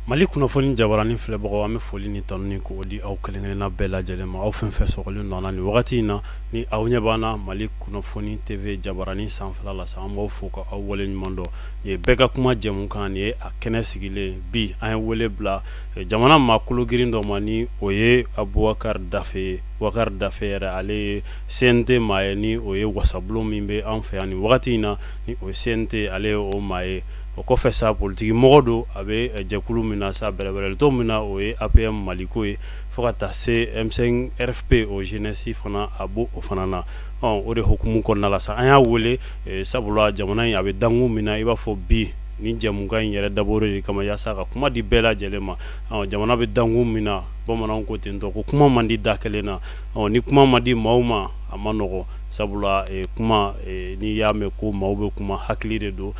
mali kunnafoni jabarani filɛbagaw an bɛ foli ni tanu ni k'o di aw kelenkelenna bɛɛ lajɛlen ma aw fɛn fɛn sɔgɔlen don an na nin wagati in na ni aw ɲɛ b'an na mali kunnafoni tv jabarani sanfɛla la sa an b'aw fo ka aw waleɲuman dɔn ye bɛɛ ka kuma jɛmukan nin ye a kɛnɛ sigilen bi an ye wele bila jamana maa kolo girin dɔ ma ni o ye abubakari dafe ye bubakari dafe yɛrɛ ale ye cnt maa ye ni o ye wasabulon min bɛ an fɛ yan ni wagati in na ni o cnt ale ye o maa ye o kɔfɛ sa politigi mɔgɔ don a bɛ jɛkulu min na sa bɛrɛbɛrɛlitɔn min na o ye apm maliko ye fo ka taa se m5 rfp o jeunesse fana a b' o fana na o de hukumu kɔnɔna la sa an y'a weele sabula jamana in a bɛ dankun min na i b'a fɔ bi ni jɛmukan in yɛrɛ dabɔra de kama yaasa ka kuma di bɛɛ lajɛlen ma jamana bɛ dankun min na bamanan ko ten ko kuma man di da kelen na ni kuma ma di maaw ma a man nɔgɔ sabula kuma n'i y'a mɛn ko maaw bɛ kuma hakili de don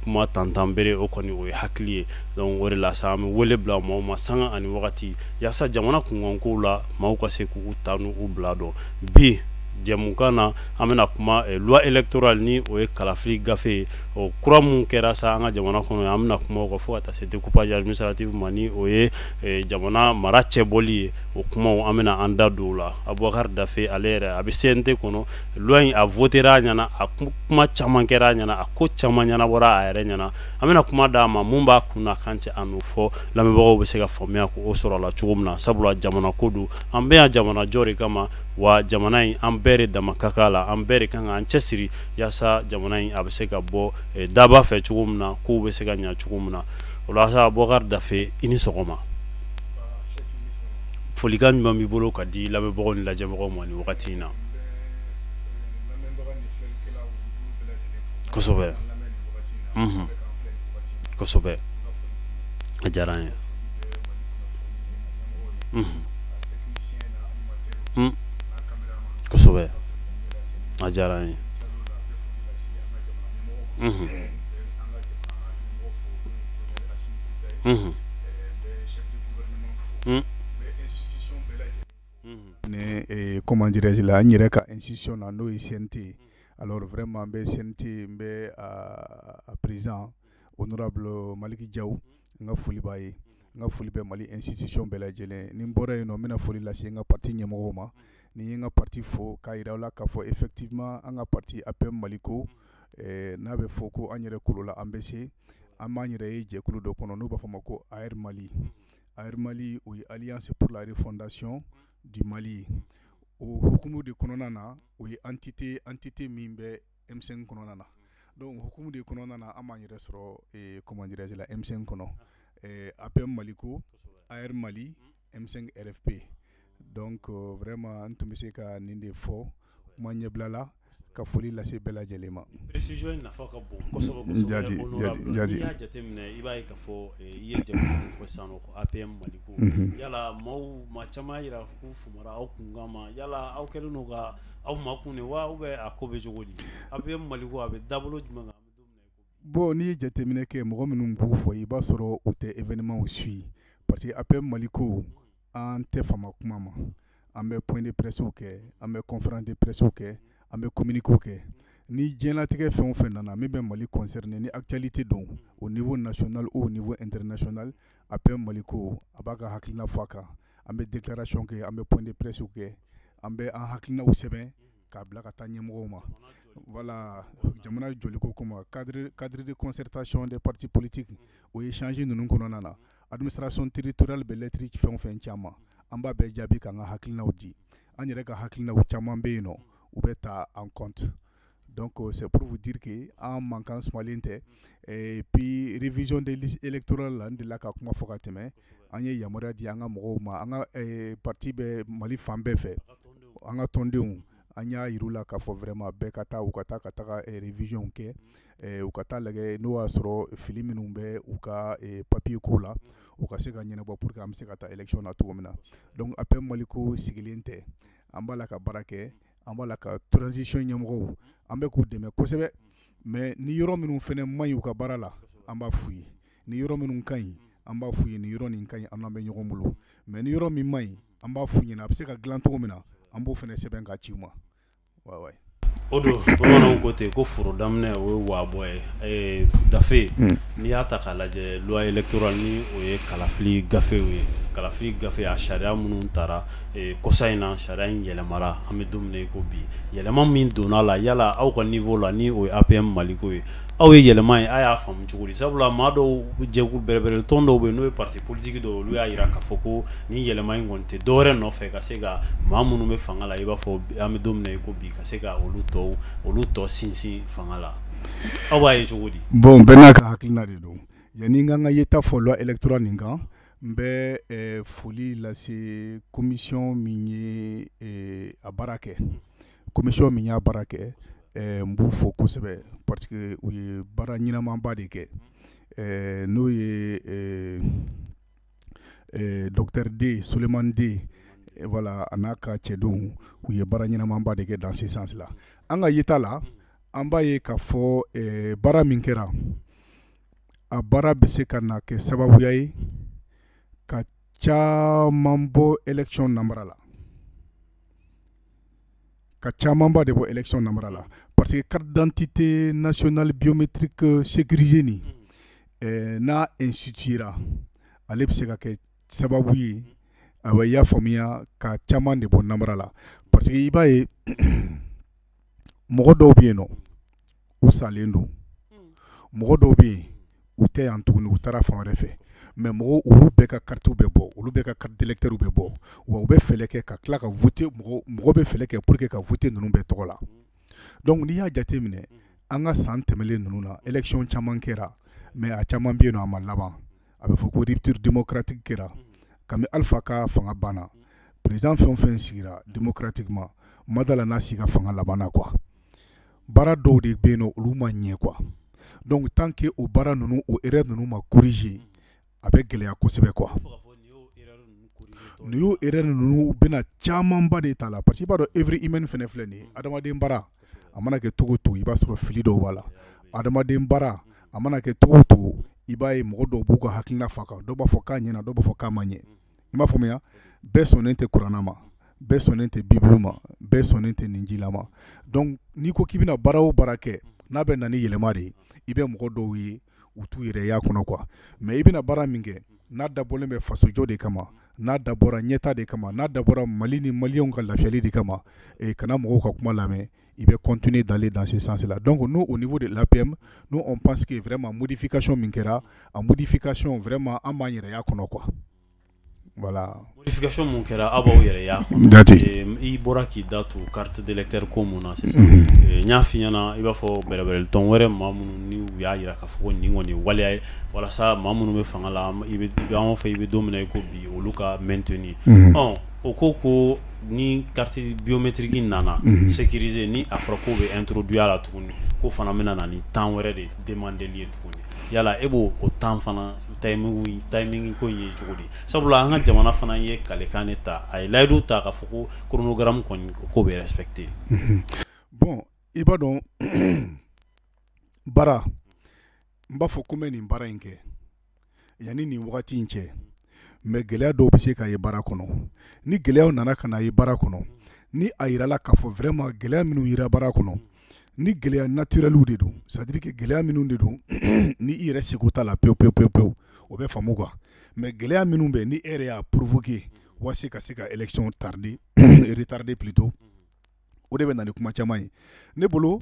kuma tantan bere o kɔni o ye hakili ye donc o de la sa an bɛ wele bila maaw ma sanga ani wagati yaasa jamana kunkankow la maaw ka se k'u ta n'u bila dɔn bi jɛmukan na an bɛna kuma eh, loi électorale ni o ye kalafili gafe ye o kura min kɛra sa an ka jamana kɔnɔ an bɛna kuma o kan fo ka taa se découpage administratif ma ni o ye eh, jamana mara cɛbɔli ye o kumaw an bɛna an da don o la abubakar dafe ale yɛrɛ a bɛ cnt kɔnɔ loi in a votera a ɲɛna a kuma caman kɛra a ɲɛna a ko caman ɲɛnabɔra a yɛrɛ ɲɛna an bɛna kuma d'a ma mun b'a kun n'a kan cɛ a n'o fɔ lamɛnbagaw bɛ se ka faamuya ko o sɔrɔ a la cogo min na sabula jamana ko don an bɛ yan jamana jɔ de kama wa jamana in an bɛɛ de dama ka kan a la an bɛɛ de ka kan k'an cɛ siri yaasa jamana in a bɛ se ka bɔ daba fɛ cogo min na kow bɛ se ka ɲɛ cogo min na o la sa bubakar dafe i ni sɔgɔma folikan ɲuman b'i bolo ka di lamɛnbagaw ni lajɛbagaw ma ni wagati in na kosɛbɛ kosɛbɛ a diyara n ye kosɛbɛ a diyara ye komanjɛji la n yɛrɛ ka siɔn na n'o ye sente wɛrɛ ma bɛ sente n bɛ perez o nana bila maliki ja n ka foli b'a ye n ka foli bɛ mali institution bɛɛ lajɛlen ni n bɔra yen nɔ n bɛna foli lase n ka pati ɲɛmɔgɔ ma ni n ye n ka pati fo k'a yira la k'a fɔ effectivement an ka pati APM Maliko n'a bɛ fɔ ko an yɛrɛ kolo la an bɛ se an b'an yɛrɛ ye jɛkulu dɔ kɔnɔ n'u b'a fɔ ma ko AR Mali AR Mali o ye Alliance pour la refondation du Mali ye o hukumu de kɔnɔna na o ye entité entité min bɛ M5 kɔnɔna na donc hukumu de kɔnɔna na an b'an yɛrɛ sɔrɔ comment dirais-je là M5 kɔnɔ APM Maliko AR Mali M5 RFP donc vraiment n tun bɛ se ka nin de fɔ kuma ɲɛbila la ka foli lase bɛɛ lajɛlen ma aw makun de wa ou bien a ko bɛ cogo di APM Maliko a bɛ dabolo jumɛn kan bon n'i ye jateminɛ kɛ mɔgɔ minnu b'u fɔ i b'a sɔrɔ u tɛ événementw suivi parce que APM Maliko an tɛ fama kuma ma an bɛ point de pressew kɛ an bɛ conférence de pressew kɛ an bɛ communiquéw kɛ ni diɲɛlatigɛ fɛn o fɛn nana min bɛ mali concerné ni actualité don au niveau national au niveau international APM Maliko a b'a ka hakilina fɔ a kan an bɛ déclaration kɛ an bɛ point de presse kɛ an bɛ an hakilinaw sɛbɛn k'a bila ka taa ɲɛmɔgɔw ma voilà jamana jɔliko kama cadre cadre de concertation des partis politiques o échange ninnu kɔnɔna na administration territoriale bɛ lettre fɛn o fɛn ci an ma an b'a bɛɛ jaabi k'an ka hakilinaw di an yɛrɛ ka hakilinaw caman bɛ yen nɔ u bɛ ta en compte Donc c'est pour vous dire que an mankan sumanlen tɛ et puis révision des listes électorales la n delila ka kuma fɔ ka tɛmɛ an ye yamaruya di an ka mɔgɔw ma an ka pati bɛ mali fan bɛɛ fɛ an ka tɔndenw an y'a yira u la k'a fɔ vraiment bɛɛ ka taa u ka taa ka taga révision kɛ u ka taa lajɛ n'o y'a sɔrɔ fili minnu bɛ u ka papiye ko la u ka se ka ɲɛnabɔ pour que an bɛ se ka taa élection na cogo min na donc APM Maliko sigilen tɛ an b'a la ka baara kɛ an b'a la ka transition ɲɛmɔgɔw an bɛ k'u dɛmɛ kosɛbɛ mais ni yɔrɔ minnu fɛnɛ man ɲi u ka baara la an b'a f'u ye ni yɔrɔ minnu ka ɲi an b'a f'u ye ni yɔrɔ nin ka ɲi an n'aw bɛ ɲɔgɔn bolo mais ni yɔrɔ min man ɲi an b'a f'u ɲɛna a bɛ se ka dilan cogo min na an b'o fɛnɛ sɛbɛn ka ci u ma wayi wayi o don bamananw ko ten ko foro daminɛ o ye waabɔ ye eh, gafe hmm. n'i y'a ta k'a lajɛ loi électorale ni o ye kalafili gafew ye kalafili gafe a sariya minnu tara kɔsa in na sariya in yɛlɛmara an bɛ don min na i ko bi yɛlɛma min donna la yala aw ka niveau la ni o ye APM Maliko ye aw ye yɛlɛma in aw y'a faamu cogo di sabula maa dɔw jɛkulu bɛrɛbɛrɛ tɔn dɔw bɛ n'o ye parti politique dɔw olu y'a jira k'a fɔ ko ni yɛlɛma in kɔni tɛ dɔwɛrɛ nɔfɛ ka se ka maa minnu bɛ fanga la i b'a fɔ an bɛ don min na i ko bi ka se ka olu to olu to sinsin fanga la aw b'a ye cogo di bon bɛɛ n'a ka hakilina de don yanni n ka n ka yeta fɔ loi électorale nin kan n bɛ eh, foli lase komisiyɔn min ye eh, a baara kɛ komisiyɔn min y'a baara kɛ eh, n b'u fo kosɛbɛ parce que u ye baara ɲɛnamaba de kɛ eh, n'o ye eh, eh, docteur Dé Souleymane Dé eh, voilà a n'a ka cɛdenw u ye baara ɲɛnamaba de kɛ dans ce sens là an ka yeta la an b'a ye k'a fɔ eh, baara min kɛra a baara bɛ se ka na kɛ sababuya ye ka caman bɔ élection namara la ka camanba de bɔ élection namara la parce que carte d'identité nationale biométrique sécurisée nin n'a instituera ale bɛ se ka kɛ sababu ye a bɛ y'a faamuya ka caman de bɔ namara la parce que i b'a ye mɔgɔ dɔw bɛ yen nɔ u salen don mɔgɔ dɔw bɛ yen u tɛ yan tuguni u taara fan wɛrɛ fɛ mais mɔgɔw olu bɛɛ ka karitiw bɛ bɔ olu bɛɛ ka carte d'électeurw bɛ bɔ wa u bɛ fɛɛrɛ kɛ ka tila ka voter mɔgɔ bɛ fɛɛrɛ kɛ pour que ka voter ninnu bɛɛ tɔgɔ la donc n'i y'a jate minɛ an ka san tɛmɛlen ninnu na élection caman kɛra mais a caman bɛ yen nɔ a ma laban a bɛ fɔ ko rupture démocratique kɛra kabini Alpha ka fanga banna président fɛn o fɛn sigira démocratiquement n ma d'a la n'a si ka fanga labanna quoi baara dɔw de bɛ yen nɔ olu ma ɲɛ quoi donc tant que o baara ninnu o erreur ninnu ma corriger a bɛ gɛlɛya kosɛbɛ quoi nin y'o erreur ninnu bɛna camanba de ta la parce que i b'a dɔn œuvre humaine fɛnɛ filɛ nin ye adamaden baara a mana kɛ cogo o cogo i b'a sɔrɔ fili dɔw b'a la adamaden baara a mana kɛ cogo o cogo i b'a ye mɔgɔ dɔw b'u ka hakilina f'a kan dɔw b'a fɔ k'a ɲɛna dɔw b'a fɔ k'a ma ɲɛ i m'a faamuya bɛɛ sɔnnen tɛ kurana ma bɛɛ sɔnnen tɛ bibulu ma bɛɛ sɔnnen tɛ ninjila ma donc n'i ko k'i bɛna baara o baara kɛ n'a bɛ na ni yɛlɛma de ye i bɛ mɔgɔ dɔw ye u t'u yɛrɛ y'a kɔnɔ quoi mais i bɛna baara min kɛ n'a dabɔlen bɛ fasojɔ de kama n'a dabɔra ɲɛtaa de kama n'a dabɔra mali ni maliyɛnw ka lafiyali de kama kana mɔgɔw ka kuma lamɛn i bɛ continuer d'aller dans ce sens là donc nous au niveau de l'APM nous on pense que vraiment modification min kɛra a modification vraiment an b'an yɛrɛ y'a kɔnɔ quoi voilà modification mun kɛra aw b'aw yɛrɛ y'a kɔnɔ Jati Ee, i bɔra k'i da tu carte d'électeur ko mun na sisan Mhm. Ee, n y'a f'i ɲɛna i b'a fɔ bɛrɛbɛrɛlitɔn wɛrɛ maa minnu ni u y'a jira k'a fɔ ko nin kɔni ye waleya ye walasa maa minnu bɛ fanga la an- i bɛ i bɛ- an b'a fɔ i bɛ don min na i ko bi olu ka maintenir Mhm. Ɔn, o ko ko ni carte biométrique nana sécurisée ni a fɔra k'o bɛ introduire a la tuguni k'o fana bɛna na ni temps wɛrɛ de demandeli ye tuguni yala e b'o o temps fana timing ko in ye cogo di sabula an ka jamana fana ye kalikan de ta a ye layidu ta k'a fɔ ko chronogramme kɔni k'o bɛ respecté bon i b'a dɔn baara n b'a fɔ ko n bɛ nin baara in kɛ yanni nin wagati in cɛ mais gɛlɛya dɔw bɛ se ka ye baara kɔnɔ ni gɛlɛyaw nana ka na ye baara kɔnɔ ni a jirala k'a fɔ vraiment gɛlɛya minnu yera baara kɔnɔ ni gɛlɛya naturelw de don c'est-à-dire que gɛlɛya minnu de don ni i yɛrɛ seko t'a la pewu pewu pewu pewu o bɛ faamu quoi mais gɛlɛya minnu bɛ ni e yɛrɛ y'a provoquer walasa ka se ka élection tarder retarder plutôt o de bɛ na ni kuma caman ye ne bolo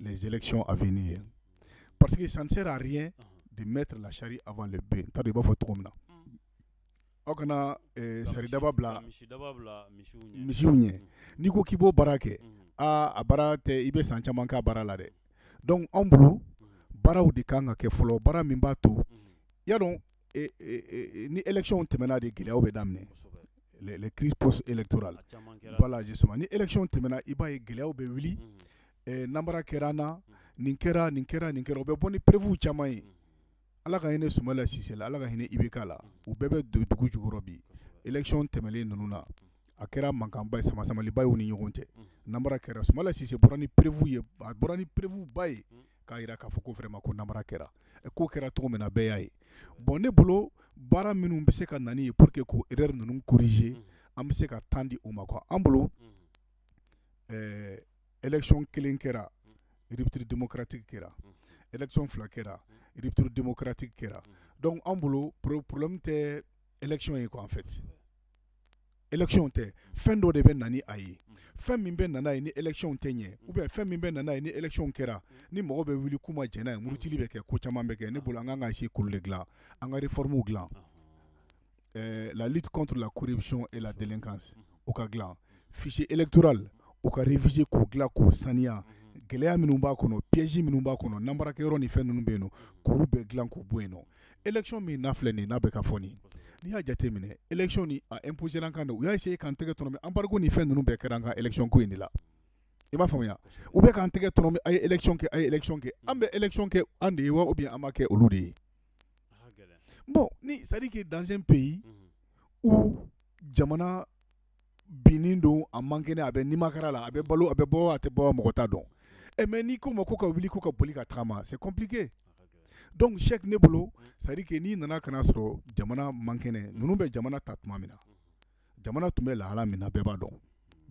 les élections à venir. Parce que ça ne sert à rien de mettre la charrue avant le bœuf. C'est-à-dire i b'a fɔ cogo min na. Aw kana eh, saridaba bila misiw ɲɛ. N'i ko k'i b'o baara kɛ, aa a baara tɛ i bɛ san caman k'a baara la dɛ. Donc anw bolo baaraw de kan ka kɛ fɔlɔ, baara min b'a to y'a dɔn ni élection tɛmɛna de gɛlɛyaw bɛ daminɛ les crises post-électorales voilà justement ni élection tɛmɛna i b'a ye gɛlɛyaw bɛ wuli nanbara kɛra an na nin kɛra nin kɛra nin kɛra u bɛ bɔ ni preuve caman ye ala ka hinɛ sumala sise la ala ka hinɛ IBK la u bɛɛ bɛ dugu jukɔrɔ bi élection tɛmɛlen ninnu na a kɛra mankanba ye sama-samaliba ye u ni ɲɔgɔn cɛ nanbara kɛra sumala sise bɔra ni preuve ye a bɔra ni preuve ba ye k'a jira k'a fɔ ko vraiment ko nanbara kɛra k'o kɛra cogo min na bɛɛ y'a ye bon ne bolo baara minnu bɛ se ka na n'a ye pour que k'o erreur ninnu corriger an bɛ se ka temps di u ma quoi an bolo ɛɛ élection kelen kɛra rupture démocratique kɛra élection fila kɛra rupture démocratique kɛra donc an bolo problème tɛ élection ye quoi en fait élection tɛ fɛn dɔ de bɛ na ni a ye fɛn min bɛ na n'a ye ni élection tɛ ɲɛ ou bien fɛn min bɛ na n'a ye ni élection kɛra ni mɔgɔ bɛ wuli k'u ma jɛn n'a ye murutili bɛ kɛ ko caman bɛ kɛ ne bolo an kan ka essayer k'olu de dilan an ka réforme dilan la lutte contre la corruption et la délinquance o ka dilan fichier électoral o ka réviser k'o dilan k'o saniya gɛlɛya minnu b'a kɔnɔ piège minnu b'a kɔnɔ nanbarakɛyɔrɔ ni fɛn ninnu bɛ yen nɔ k'olu bɛɛ dilan k'u bɔ yen nɔ élection min n'a filɛ nin n'a bɛ ka fɔ nin n'i y'a jate minɛ élection ni a imposer an kan de u y'a essayer k'an tɛgɛ tɔnɔmi embargo ni fɛn ninnu bɛɛ kɛra an ka élection ko in de la i b'a faamuya u bɛ k'an tɛgɛ tɔnɔmi a ye élection kɛ a ye élection kɛ an bɛ élection kɛ an de ye wa ou bien an b'a kɛ olu de ye bon ni c'est à dire que dans un pays où jamana binnen don a man kɛnɛ a bɛ nimakara la a bɛ balo a bɛ bɔ a tɛ bɔ mɔgɔ t'a dɔn e mais n'i k'o ma ko ka wuli ko ka boli ka taama c'est compliqué donc c'est que ne bolo c'est à dire que n'i nana ka n'a sɔrɔ jamana man kɛnɛ ninnu bɛ jamana ta tuma min na jamana tun bɛ lahala min na bɛɛ b'a dɔn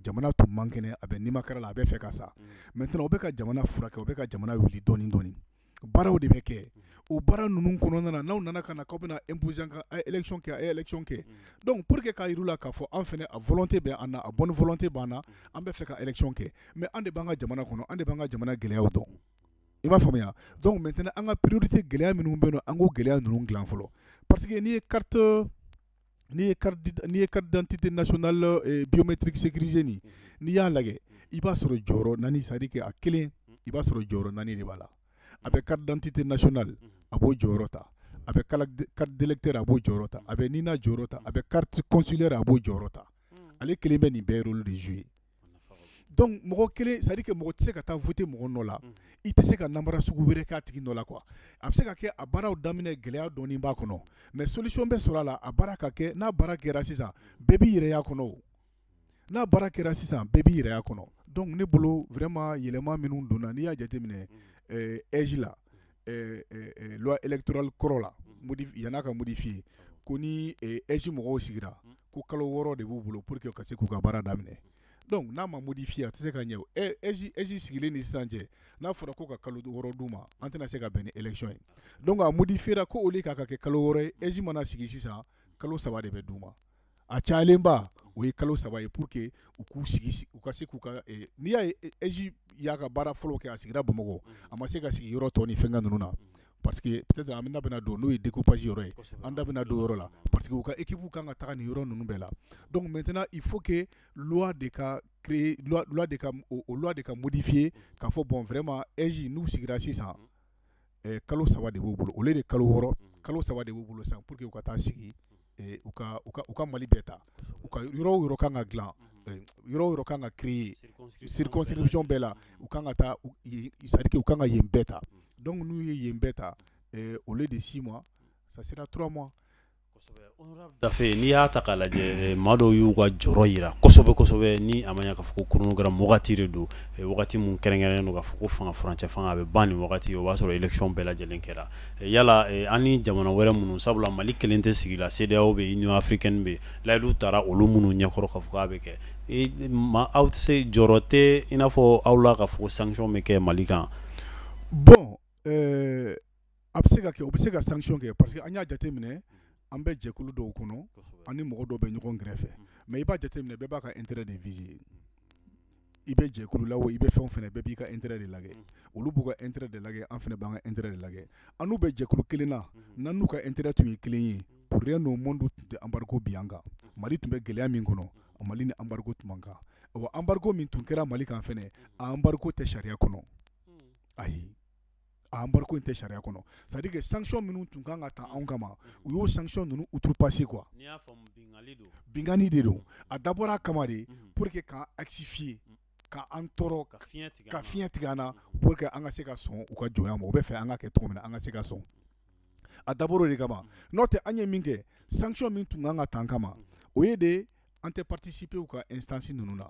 jamana tun man kɛnɛ a bɛ nimakara la a bɛ fɛ ka sa maintenant u bɛ ka jamana furakɛ u bɛ ka jamana wuli dɔɔnin dɔɔnin baaraw de bɛ kɛ o baara ninnu kɔnɔna na n'aw nana ka na k'aw bɛna imposer an kan a ye élection kɛ a ye élection kɛ donc pour que k'a yir'u la k'a fɔ an fɛnɛ a volonté bɛ an na a bonne volonté b'an na an bɛ fɛ ka élection kɛ mais an de b'an ka jamana kɔnɔ an de b'an ka jamana gɛlɛyaw dɔn i m'a faamuya donc maintenant an ka priorité gɛlɛya minnu bɛ yen nɔ an k'o gɛlɛya ninnu dilan fɔlɔ parce que n'i ye carte n'i ye n'i ye carte d'identité nationale biométrique sécurisée nin n'i y'a lajɛ i b'a sɔrɔ jɔyɔrɔ naani c'est à dire que a kelen i b'a sɔrɔ jɔyɔrɔ naani de b'a la a bɛ carte d'identité nationale a b'o jɔyɔrɔ ta a bɛ carte d'électeur a b'o jɔyɔrɔ ta a bɛ NINA jɔyɔrɔ ta a bɛ carte consulaire a b'o jɔyɔrɔ ta ale kelen bɛ nin bɛɛ rôle de jouer donc mɔgɔ kelen c'est à dire que mɔgɔ tɛ se ka taa voter mɔgɔ nɔ la i tɛ se ka nanbara sugu wɛrɛ k'a tigi nɔ la quoi a bɛ se ka kɛ a baaraw daminɛ gɛlɛya dɔɔnin b'a kɔnɔ mais solution bɛ sɔrɔ a la a baara ka kɛ n'a baara kɛra sisan bɛɛ b'i yɛrɛ y'a kɔnɔ n'a baara kɛra sisan bɛɛ b'i yɛrɛ y'a kɔnɔ donc ne bolo vraiment yɛlɛma minnu donna n'i y'a jateminɛ AIGE la loi électorale kɔrɔ la yan'a ka modifier ko ni AIGE mɔgɔw sigira ko kalo 6 de b'u bolo pour que u ka se k'u ka baara daminɛ donc n'a ma modifier a tɛ se ka ɲɛ o AIGE sigilen ni sisan cɛ n'a fɔra ko ka kalo 6 d'u ma an tɛna se ka bɛn ni élection ye donc a modifiera ko au lieu k'a ka kɛ kalo 6 ye AIGE mana sigi sisan kalo 3 de bɛ d'u ma a cayalenba o ye kalo saba ye pour que u k'u sigi u ka se k'u ka eh, n'i y'a ye eh, AIGE y'a ka baara fɔlɔ kɛ a sigira Bamakɔ a ma se ka sigi yɔrɔ tɔ ni fɛnkɛ ninnu na parce que peut-être an da bɛna don n'o ye découpage yɔrɔ ye an da bɛna don yɔrɔ la parce que u ka équipe kan ka taga nin yɔrɔ ninnu bɛɛ la donc maintenant il faut que loi de ka créer loi, loi de ka o, loi de ka modifier k'a fɔ bon vraiment AIGE n'u sigira sisan kalo saba de b'u bolo au lieu de kalo wɔɔrɔ kalo saba de b'u bolo san pour que u ka taa sigi u ka Mali bɛɛ ta u ka yɔrɔ o yɔrɔ kan ka dilan yɔrɔ o yɔrɔ kan ka créer circonscription bɛɛ la u kan ka taa c'est à dire que u kan ka yen bɛɛ ta donc n'u ye yen bɛɛ ta au lieu de six mois ça sera trois mois dafe n'i y'a ta k'a lajɛ eh, maa dɔw y'u ka jɔrɔ yira kosɛbɛ kosɛbɛ ni a ma ɲa k'a fɔ ko chronogramme wagati de don eh, wagati min kɛrɛnkɛrɛnnen don k'a fɔ ko fanga furancɛ fanga a bɛ ban nin wagati o b'a sɔrɔ élection bɛɛ lajɛlen kɛra eh, yala an ni jamana wɛrɛ minnu sabula mali kelen tɛ sigi la CEDEAO bɛ union africaine bɛ layidu tara olu minnu ɲɛkɔrɔ k'a fɔ k'a bɛ kɛ ma aw tɛ se jɔrɔ tɛ i n'a fɔ aw la k'a fɔ ko sanction bɛ kɛ mali kan bon a bɛ se ka kɛ u bɛ se ka sanction kɛ parce que an y'a jateminɛ an bɛ jɛkulu dɔw kɔnɔ an ni mɔgɔ dɔw bɛ ɲɔgɔn kɛrɛfɛ mais i b'a jateminɛ bɛɛ b'a ka intérêt de viser i bɛ jɛkulu la o i bɛ fɛn o fɛn na bɛɛ b'i ka intérêt de lajɛ olu b'u ka intérêt de lajɛ an fana b'an ka intérêt de lajɛ an n'u bɛ jɛkulu kelen na n'an n'u ka intérêt tun ye kelen ye pour rien au monde tun tɛ embargo bin an kan Mali tun bɛ gɛlɛya min kɔnɔ Mali ni embargo tun man kan wa embargo min tun kɛra Mali kan fana a embargo tɛ sariya kɔnɔ ayi embargo in tɛ sariya kɔnɔ c'est à dire que sanction minnu tun kan ka ta anw kama u y'o sanction ninnu outrepasser quoi binkanni de don a dabɔra a kama de pour que k'an asphyxier ka an tɔɔrɔ ka fiɲɛ tigɛ an na pour que an ka se ka sɔn u ka jɔnya ma u b'a fɛ an ka kɛ cogo min na an ka se ka sɔn a dabɔra o de kama n'o tɛ an ye min kɛ sanction min tun kan ka ta an kama o ye de an tɛ participer u ka instance ninnu na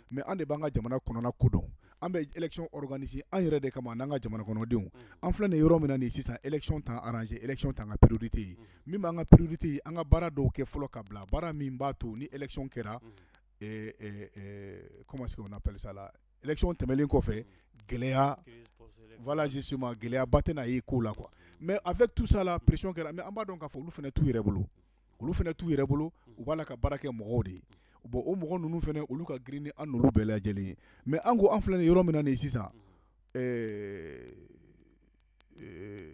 mais an de b'an ka jamana kɔnɔna ko dɔn an bɛ élection organiser an yɛrɛ de kama n'an ka jamana kɔnɔdenw an filɛ nin yɔrɔ min na nin sisan élection t'an arranger élection tɛ an ka priorité ye min b'an ka priorité ye an ka baara dɔw kɛ fɔlɔ ka bila baara min b'a to ni élection kɛra comment est-ce qu'on appelle ça là élection tɛmɛnlen kɔfɛ gɛlɛya voilà justement gɛlɛyaba tɛna n'a ye ko la quoi mais avec tout ça là pression kɛra mais an b'a dɔn k'a fɔ olu fana t'u yɛrɛ bolo olu fana t'u yɛrɛ bolo u b'a la ka baara kɛ mɔgɔw de ye bon o mɔgɔ ninnu fana olu ka girin ni an n'olu bɛɛ lajɛlen ye mais an ko an filɛ nin yɔrɔ min na nin sisan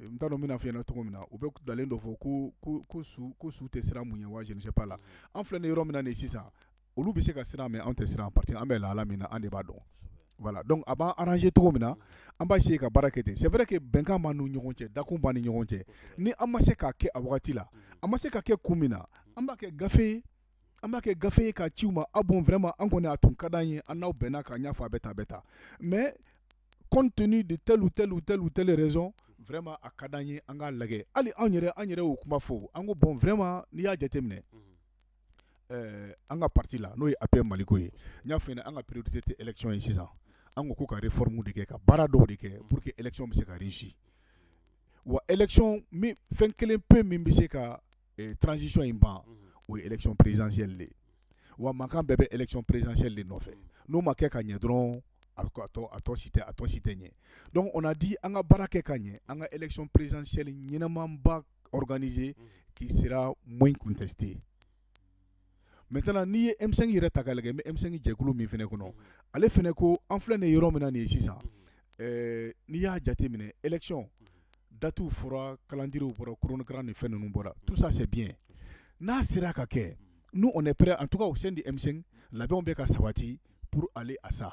n t'a dɔn n bɛna a f'i ɲɛna cogo min na u bɛ ntalen dɔ fɔ ko ko su tɛ siran mun ɲɛ wa je ne sais pas là an filɛ nin yɔrɔ min na nin sisan olu bɛ se ka siran mais an tɛ siran parce que an bɛ lahala min na an de b'a dɔn voilà donc a b'an arranger cogo min na an b'a essayer ka baara kɛ ten c'est vrai que bɛnkan b'an ni ɲɔgɔn cɛ dakun b'an ni ɲɔgɔn cɛ ni an ma se k'a kɛ a wagati la an ma se k'a kɛ kun min na an b'a kɛ gafe an b'a kɛ gafe ye ka ci u ma ah bon vraiment an kɔni a tun ka di an ye an n'aw bɛnna k'a ɲɛfɔ a bɛ taa bɛ taa mais compte tenu de telle ou telle ou telle ou telle raison vraiment a ka di an ye an k'a lajɛ hali anw yɛrɛ an yɛrɛ y'o kuma fɔ an ko bon vraiment n'i y'a jateminɛ an ka parti la n'o ye APM Maliko ye n y'a f'i ɲɛna an ka priorité tɛ élection ye sisan an ko ko ka réformes de kɛ ka baara dɔw de kɛ pour que élection bɛ se ka réussir wa élection fɛn kelen pe min bɛ se ka transition in ban o ye élection présidentielle de wa mankan bɛɛ bɛ élection présidentielle de nɔfɛ n'o ma kɛ ka ɲɛ dɔrɔn a tɔ si tɛ a tɔ si tɛ ɲɛ donc on a dit an ka baara kɛ ka ɲɛ an ka élection présidentielle ɲɛnama ba organiser unhun, qui sera moins contesté maintenant n'i ye M5 yɛrɛ ta k'a lajɛ n bɛ M5 jɛkulu min fɛnɛ kɔnɔ, ale fɛnɛ ko an filɛ nin yɔrɔ min na nin ye sisan, ɛɛ n'i y'a jateminɛ élection date fɔra calendrier bɔra chronogramme ni fɛn ninnu bɔra tout ça c'est bien n'a sera ka kɛ nous on est prêt en tout cas au sein du M5 labɛnw bɛ ka sabati, unhun pour aller à ça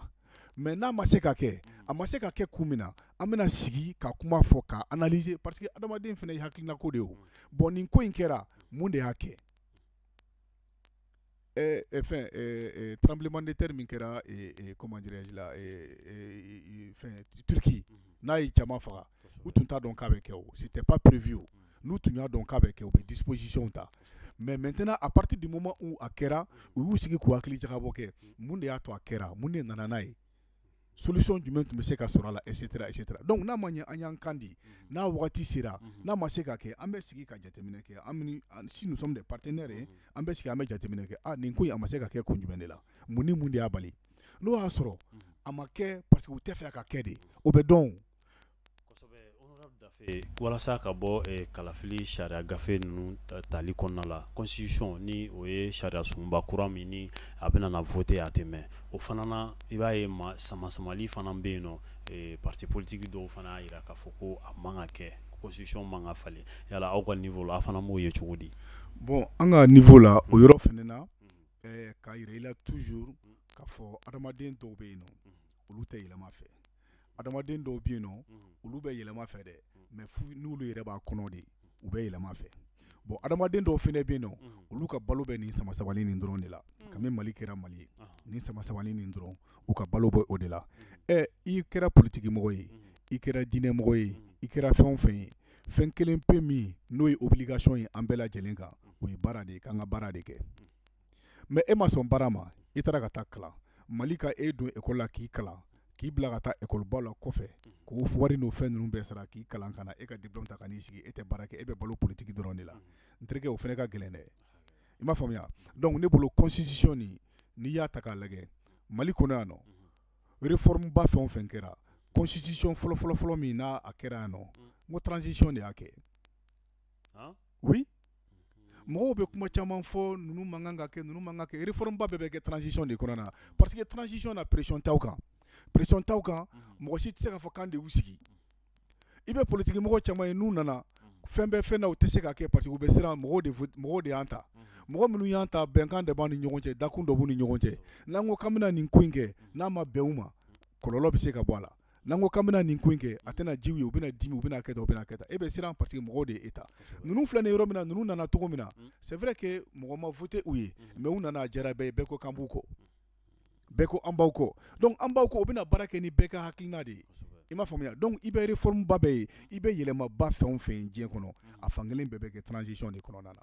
mais n'a ma se ka kɛ a ma se ka kɛ kun min na an bɛna sigi ka kuma fɔ ka analyser parce que adamaden fɛnɛ ye hakilina ko de ye o bon nin ko in kɛra mun de y'a kɛ eh, eh, fɛn eh, eh, tremblement de terre min kɛra eh, eh, comment dirais-je la eh, eh, eh, fɛn Turquie n'a ye jama faga u tun t'a dɔn k'a bɛ kɛ o c'était pas prévu o n'u tun y'a dɔn k'a bɛ kɛ u bɛ disposition ta mais maintenant à partir du moment où a kɛra u y'u sigi k'u hakili jagabɔ kɛ mun de y'a to a kɛra mun de nana n'a ye solution jumɛn tun bɛ se ka sɔrɔ a la et cetera et cetera donc n'a ma ɲɛ an y'an kan di n'a wagati sera n'a ma se ka kɛ an bɛ sigi ka jateminɛ kɛ an bɛ si nous sommes des partenaires ye an bɛ sigi an bɛ jateminɛ kɛ ah nin ko in a ma se ka kɛ kun jumɛn de la mun ni mun de y'a bali n'o y'a sɔrɔ a ma kɛ parce que u t'a fɛ a ka kɛ de o bɛ dɔn o Walasa ka bɔ kalafili sariya gafe ninnu tali kɔnɔna la constitution ni o ye sariya sunba kura min ni a bɛna na voter a tɛ mɛn o fana na i b'a ye ma samasamali fana bɛ yen nɔ parti politique dɔw fana y'a jira k'a fɔ ko a man ka kɛ constitution man ka falen yala aw ka niveau la a fana b'o ye cogo di bon an ka niveau la o yɔrɔ fana na k'a yira i la toujours k'a fɔ adamaden dɔw bɛ yen nɔ olu tɛ yɛlɛma fɛ adamaden dɔw bɛ yen nɔ olu bɛ yɛlɛma fɛ dɛ mais n'olu yɛrɛ b'a kɔnɔ de u bɛ yɛlɛma fɛ bon adamaden dɔw fɛnɛ bɛ yen nɔ olu ka balo bɛ nin samasamali nin dɔrɔn de la kabini Mali kɛra Mali ye nin samasamali nin dɔrɔn u ka balo bɛ o de la ɛ i kɛra politikimɔgɔ ye i kɛra diinɛmɔgɔ ye i kɛra fɛn o fɛn ye fɛn kelen pe min n'o ye obligation ye an bɛɛ lajɛlen kan o ye baara de ye k'an ka baara de kɛ mais e ma sɔn baara ma i taara ka taa kalan Mali ka e don école la k'i kalan k'i bila ka taa école ba la kɔfɛ k'o wari n'o fɛn ninnu bɛɛ sara k'i kalan ka na e ka diplôme ta ka n'i sigi e tɛ baara kɛ e bɛ balo politique dɔrɔn de la n terikɛ o fɛnɛ ka gɛlɛn dɛ i m'a faamuya donc ne bolo constitution nin n'i y'a ta k'a lajɛ Mali kɔnɔ yan nɔ réforme ba fɛn o fɛn kɛra constitution fɔlɔfɔlɔfɔlɔ min n'a a kɛra yan nɔ n ko transition de y'a kɛ oui mɔgɔw bɛ kuma caman fɔ ninnu man kan ka kɛ ninnu man kan ka kɛ réforme ba bɛɛ bɛ kɛ transition de kɔnɔna na parce que transition na pression t'aw kan pression t'aw kan mhm. mɔgɔ si tɛ se k'a fɔ k'an de y'u sigi i bɛ politiki mɔgɔ caman ye n'u nana fɛn bɛɛ fɛn na u tɛ se ka kɛ parce que u bɛ siran mɔgɔw de mɔgɔw de y'an ta mhm. mɔgɔ minnu y'an ta bɛnkan de b'an ni ɲɔgɔn cɛ dakun dɔ b'u ni ɲɔgɔn cɛ n'an ko k'an bɛna nin ko in kɛ n'a ma bɛn u ma kɔlɔlɔ bɛ se ka bɔ a la n'an ko k'an bɛna nin ko in kɛ a tɛna diya u ye u bɛna dimi u bɛna kɛ tan u bɛna kɛ tan e bɛ siran parce que mɔgɔw de ye e ta ninnu filɛ nin yɔrɔ min na ninnu nana cogo min na mm. c'est vrai que mɔgɔ ma voté u ye mm. mais u nana a diyara bɛɛ ye bɛɛ ko k'an b'u kɔ bɛɛ ko an b'aw kɔ donc an b'aw kɔ u bɛna baara kɛ ni bɛɛ ka hakilina de ye i m'a faamuya donc i bɛ réforme ba bɛɛ ye i bɛ yɛlɛmaba fɛn o fɛn ye diɲɛ kɔnɔ mm. a fankelen bɛɛ bɛ kɛ transition de kɔnɔna na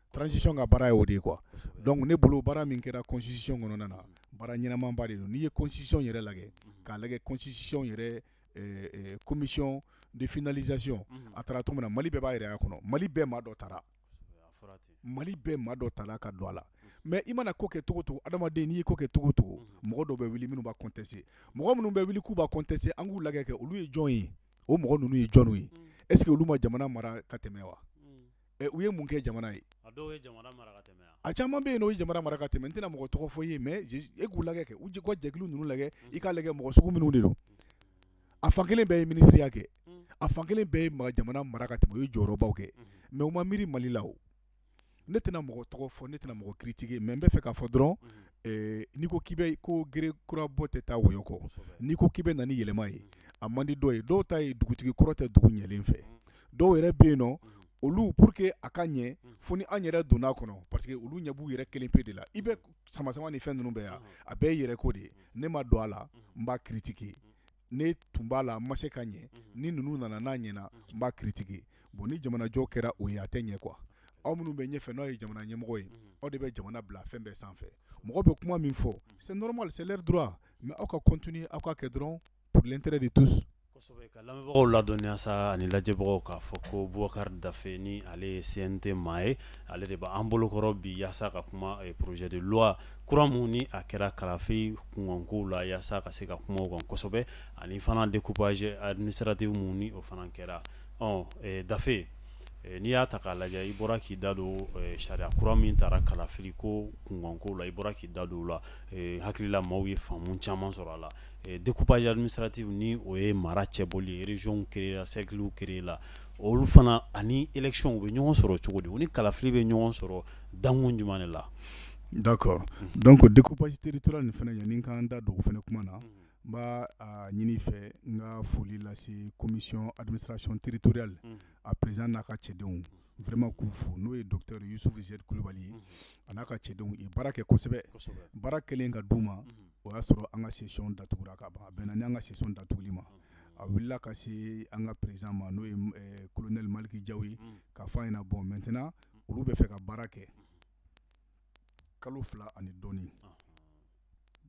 Transition ka baara ye o de ye quoi kosɛbɛ donc ne bolo baara min kɛra constitution kɔnɔna na baara ɲɛnamaba de don n'i ye constitution yɛrɛ lajɛ k'a lajɛ constitution yɛrɛ ɛɛ ɛɛ commission de finalisation unhun a tara cogo min na Mali bɛɛ b'a yɛrɛ y'a kɔnɔ Mali bɛɛ maa dɔ tara kosɛbɛ a fɔra ten Mali bɛɛ maa dɔ tara ka don a la mais i mana ko kɛ cogo o cogo adamaden n'i ye ko kɛ cogo o cogo unhun mɔgɔ dɔw bɛ wuli minnu b'a contester mɔgɔ minnu bɛ wuli k'u b'a contester an k'u lajɛ kɛ olu ye jɔn ye o mɔgɔ ninnu ye jɔniw ye unhun est ce que olu ma jamana mara ka tɛmɛ wa unhun u ye mun kɛ jamana ye a caman bɛ yen o ye jamana mara ka tɛmɛ n tɛna mɔgɔ tɔgɔ fɔ i ye mais e k'u lajɛ kɛ u ji ka jɛkulu ninnu lajɛ i k'a lajɛ mɔgɔ sugu minnu de don a fan kelen bɛɛ ye minisiriya kɛ a fan kelen bɛɛ ye jamana mara ka tɛmɛ u ye jɔyɔrɔbaw kɛ mais u ma miiri Mali la o ne tɛna mɔgɔ tɔgɔ fɔ ne tɛna mɔgɔ critiquer mais n bɛ fɛ k'a fɔ dɔrɔn n'i ko k'i bɛ ko gere kura bɔ tɛ taa wɔyɔ kɔ n'i ko k'i bɛ na ni yɛlɛma ye a man di dɔw ye dɔw ta ye dugutigi kɔrɔ tɛ dugu ɲɛlen fɛ dɔw yɛrɛ bɛ yen nɔ olu pour que a ka ɲɛ fo ni an yɛrɛ donn'a kɔnɔ parce que olu ɲɛ b'u yɛrɛ kelen pe de la i bɛ samasamani fɛn ninnu bɛɛ yan a bɛɛ ye yɛrɛ ko de ye ne ma don a la n b'a critiquer ne tun b'a la n ma se ka ɲɛ ni ninnu nana n'a ɲɛna n b'a critiquer bon ni jamanajɔ kɛra o ye a tɛ ɲɛ quoi aw minnu bɛ ɲɛfɛ n'aw ye jamana ɲɛmɔgɔ ye aw de bɛ jamana bila fɛn bɛɛ sanfɛ mɔgɔ bɛ kuma min fɔ c'est normal c'est leur droit mais aw ka continuer aw ka kɛ dɔrɔn pour l'intérêt de tous kosɛbɛ ka lamɛnbagaw ladɔnniya sa ani lajɛbagaw k'a fɔ ko Boubacar Dafe ni ale ye CNT maa ye ale de b'an bolokɔrɔ bi yaasa ka kuma eh, projet de loi kura mun ni a kɛra kalafili kunkankow la yaasa ka se ka kuma o kan kosɛbɛ ani fana découpage administratif mun ni o fana kɛra ɔ eh, Dafe eh, n'i y'a ta k'a lajɛ i bɔra k'i da don eh, sariya kura min tara kalafili ko kunkankow la i bɔra k'i da don o la eh, hakili la maaw ye faamu caman sɔrɔ a la découpage administratif ni o ye mara cɛbɔli ye régionw créer la cerclew créer la olu fana ani électionw bɛ ɲɔgɔn sɔrɔ cogo di u ni kalafili bɛ ɲɔgɔn sɔrɔ dankun jumɛn de la d'accord donc découpage territorial nin fana yanni k'an da don o fana kuma na n b'a ɲin'i fɛ n ka foli lase commission administration territoriale a président n'a ka cɛdenw vraiment k'u fo n'o ye docteur Youssouf Z Kulubali ye a n'a ka cɛdenw ye baara kɛ kosɛbɛ baara kɛlen k'a d'u ma o y'a sɔrɔ an ka session datugura ka ban a bɛnna ni an ka session datuguli ma a wulila ka se an ka président ma n'o ye eh, kolonɛli maliki jaw ye mm. k'a fɔ a ɲɛna bon maintenant olu bɛ fɛ ka baara kɛ kalo fila ani dɔɔni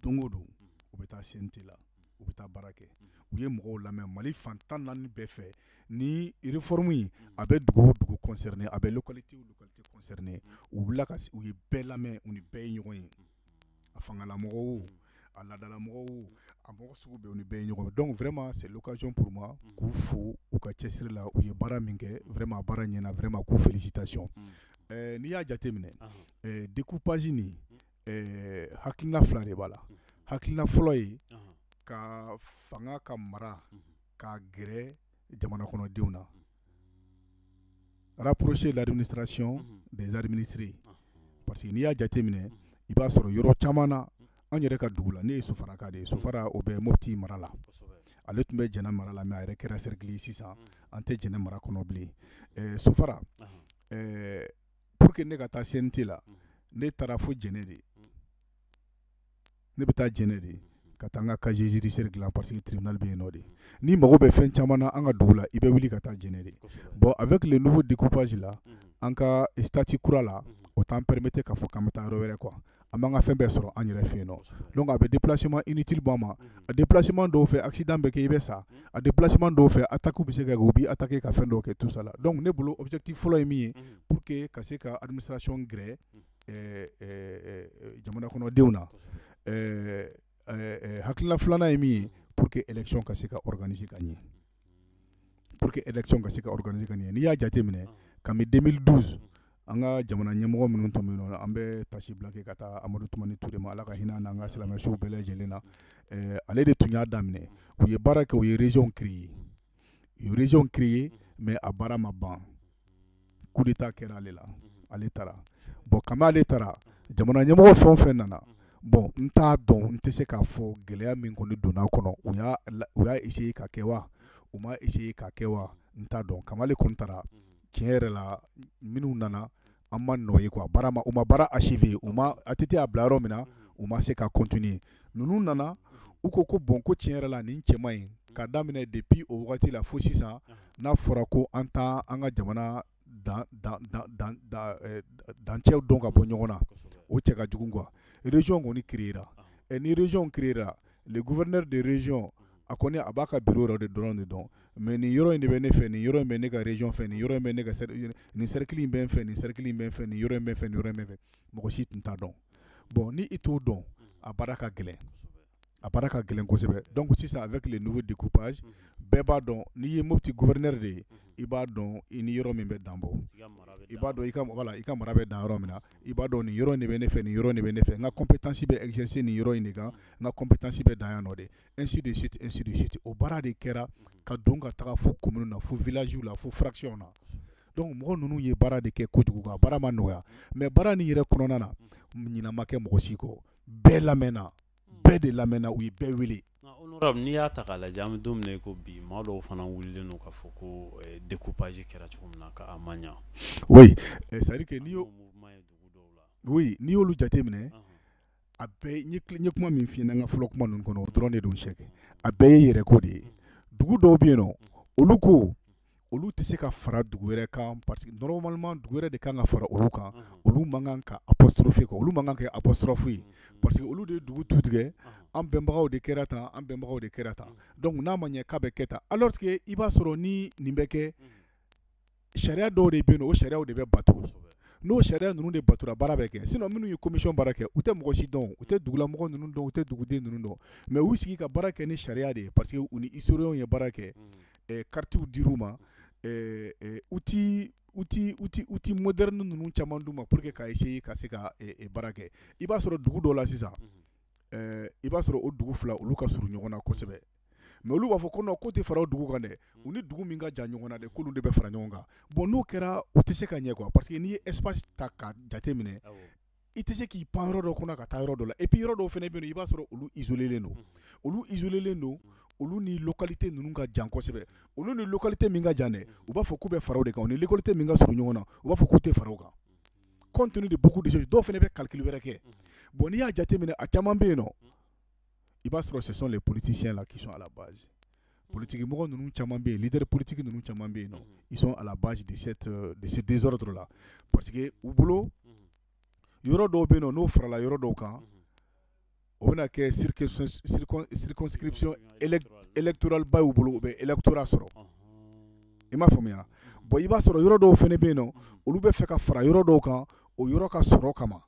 don o don u bɛ taa CNT la u bɛ taa baara kɛ u ye mɔgɔw lamɛn mali fan tan naani bɛɛ fɛ ni réforme in a bɛ dugu o dugu concerné a bɛ localité o localité concerné u wulila ka u ye bɛɛ lamɛn u ni bɛɛ ye ɲɔgɔn ye a fangalamɔgɔ o a laadalamɔgɔ o a mɔgɔ sugu bɛɛ u ni bɛɛ ye ɲɔgɔn ye donc vraiment c'est l'occasion pour moi k'u fo u ka cɛsiri la u ye baara min kɛ vraiment a baara ɲɛna vraiment ko félicitations n'i y'a jateminɛ découpage nin hakilina fila de b'a la hakilina fɔlɔ ye ka fanga ka mara ka gɛrɛ jamana kɔnɔdenw na Rapprocher l'administration des administrés parce que n'i y'a jateminɛ i b'a sɔrɔ yɔrɔ caman na an yɛrɛ ka dugu la ne ye sofaraka de ye sofara o bɛ Mopti mara la ale tun bɛ Jɛnɛ mara la mais a yɛrɛ kɛra cercle ye sisan an tɛ Jɛnɛ mara kɔnɔ bilen ɛ sofara ɛ pour que ne ka taa CNT la ne taara fo Jɛnɛ de ne bɛ taa jɛnɛ de ka taa n ka casier judiciaire dilan parce que tribunal bɛ yen nɔ de n'i mago bɛ fɛn caman na an ka dugu la i bɛ wuli ka taa jɛnɛ de bon avec le nouveau découpage là an ka statut kura la o t'an permettre k'a fɔ ka taa yɔrɔ wɛrɛ quoi an b'an ka fɛn bɛɛ sɔrɔ an yɛrɛ fɛ yen nɔ a bɛ déplacement inutile bɔ an ma a déplacement dɔw fɛ accident bɛ kɛ i bɛ sa a déplacement dɔw fɛ attaque bɛ se ka kɛ u b'i attaquer ka fɛn dɔw kɛ tout ça là donc ne bolo objectif fɔlɔ ye min ye pour que ka se ka administration gɛrɛ jamana kɔnɔdenw na hakilina filanan ye min ye pour que élection ka se ka organiser ka ɲɛ pour que élection ka se ka organiser ka ɲɛ n'i y'a jateminɛ kabini 2012 an ka jamana ɲɛmɔgɔ minnu tun bɛ yen nɔ an bɛ taasibila kɛ ka taa amadu tumani ture ma ala ka hinɛ n'an ka silamɛ suw bɛɛ lajɛlen na ale de tun y'a daminɛ u ye baara kɛ u ye région créer région créer mais a baara ma ban coup d'état kɛra ale la ale taara bon kabini ale taara jamana ɲɛmɔgɔ fɛn o fɛn nana bon n t'a dɔn n tɛ se k'a fɔ gɛlɛya min kɔni donna kɔnɔ u y'a u y'a essayer ka kɛ wa u ma essayer ka kɛ wa n t'a dɔn kabini ale kɔni taara tiɲɛ yɛrɛ la minnu nana an ma nɔ ye quoi baara u ma baara achever u ma ATT y'a bila yɔrɔ min na u ma se ka continuer ninnu nana u ko ko bon ko tiɲɛ yɛrɛ la nin cɛ man ɲi ka daminɛ depuis o wagati la fo sisan n'a fɔra ko an t'an ka jamana dancɛw dɔn ka bɔ ɲɔgɔn na o cɛ ka jugu quoi région kɔni créera ɛ ni région créera le gouverneur de région a kɔni a b'a ka bureau yɔrɔ de dɔrɔn de dɔn mais nin yɔrɔ in de bɛ ne fɛ nin yɔrɔ in bɛ ne ka région fɛ nin yɔrɔ bɛ ne ka nin cercle in bɛ n fɛ nin cercle in bɛ n fɛ nin yɔrɔ in bɛ n fɛ nin yɔrɔ in bɛ n fɛ mɔgɔ si tun t'a dɔn bon ni i t'o dɔn a baara ka gɛlɛn a baara ka gɛlɛn kosɛbɛ donc sisan avec le nouveau découpage bɛɛ b'a dɔn n'i ye mopti gouverneur de ye i b'a dɔn i ni yɔrɔ min bɛ dan bɔ i b'a dɔn i ka mɔgɔ la i ka mara bɛ dan yɔrɔ min na i b'a dɔn nin yɔrɔ de bɛ ne fɛ nin yɔrɔ de bɛ ne fɛ n ka compétence bɛ exercer nin yɔrɔ in de kan n ka compétence bɛ dan yan nɔ de ainsi de suite ainsi de suite o baara de kɛra ka don ka taga fo commune na fo villagew la fo fractionw na donc mɔgɔ ninnu ye baara de kɛ kojugu ka baara ma nɔgɔya mais baara nin yɛrɛ kɔnɔna na ɲinɛ ma kɛ mɔgɔ si kɔ bɛɛ lamɛnna bɛɛ de lamɛnna u ye bɛɛ wele n'i y'a ta k'a lajɛ an bɛ don min na i ko bi maa dɔw fana wulilen don k'a fɔ ko eh, découpage kɛra cogo min na k'a ma ɲɛ eh, c'est à dire que n'i y'o n'i y'olu jate minɛ a bɛɛ n ye kuma min f'i ɲɛna n ka fɔlɔ kuma ninnu kɔnɔ o dɔrɔn de don sɛki a bɛɛ ye yɛrɛ ko de ye dugu dɔw bɛ yen nɔ olu ko olu tɛ se ka fara dugu wɛrɛ kan parce que normalement dugu wɛrɛ de kan ka fara olu kan olu man kan ka apostrophe kɛ olu man kan ka kɛ apostrophe ye parce que olu de ye dugu tu tigɛ an bɛnbagaw de kɛra tan an bɛnbagaw de kɛra tan donc n'a ma ɲɛ k'a bɛ kɛ tan alors que i b'a sɔrɔ ni nin bɛ kɛ sariya dɔw de bɛ yen nɔ o sariyaw de bɛ bato kosɛbɛ n'o sariya ninnu de batura baara bɛ kɛ sinon minnu ye commission baara kɛ u tɛ mɔgɔ si dɔn u tɛ dugulamɔgɔ ninnu dɔn u tɛ duguden ninnu dɔn mais u sigi ka baara kɛ ni sariya de ye parce que u ni historiens ye baara kɛ ɛɛ karitiw dir'u ma ɛɛ ɛɛ outil outil outil outil moderne ninnu caman d'u ma pour que ka essayer ka se ka ɛɛ baara kɛ i b'a sɔrɔ dugu dɔ la sisan ɛɛ i b'a sɔrɔ o dugu fila olu ka surun ɲɔgɔn na kosɛbɛ mais olu b'a fɔ ko k'u tɛ fara o dugu kan dɛ u ni dugu min ka jan ɲɔgɔn na dɛ k'olu de bɛ fara ɲɔgɔn kan bon n'o kɛra u tɛ se ka ɲɛ quoi parce que n'i ye espace ta ka jate minɛ i tɛ se k'i pan yɔrɔ dɔ kɔnɔ ka taa yɔrɔ dɔ la et puis yɔrɔ dɔw fana bɛ yen i b'a sɔrɔ olu izolen don olu izolen don olu ni localité ninnu ka jan kosɛbɛ olu ni localité min ka jan dɛ u b'a fɔ k'u bɛ fara o de kan u ni localité min ka surun ɲɔgɔn na u b'a fɔ k'u tɛ fara o kan compte tenu de beaucoup de choses dɔw fana bɛ calcul wɛrɛ kɛ bon n'i y'a jate minɛ a caman bɛ yen nɔ i b'a sɔrɔ ce sont les politiciens là qui sont à la base politigi mɔgɔ ninnu caman bɛ yen leader politique ninnu caman bɛ yen nɔ ils sont à la base de ce désordre là parce que u bolo yɔrɔ dɔw bɛ yen nɔ n'o farala yɔrɔ dɔw kan o bɛna kɛ circonscription électorale ba y'u bolo u bɛ électorat sɔrɔ i m'a faamuya bon i b'a sɔrɔ yɔrɔ dɔw fana bɛ yen nɔ olu bɛ fɛ ka fara yɔrɔ dɔw kan o yɔrɔ ka sɔrɔ kama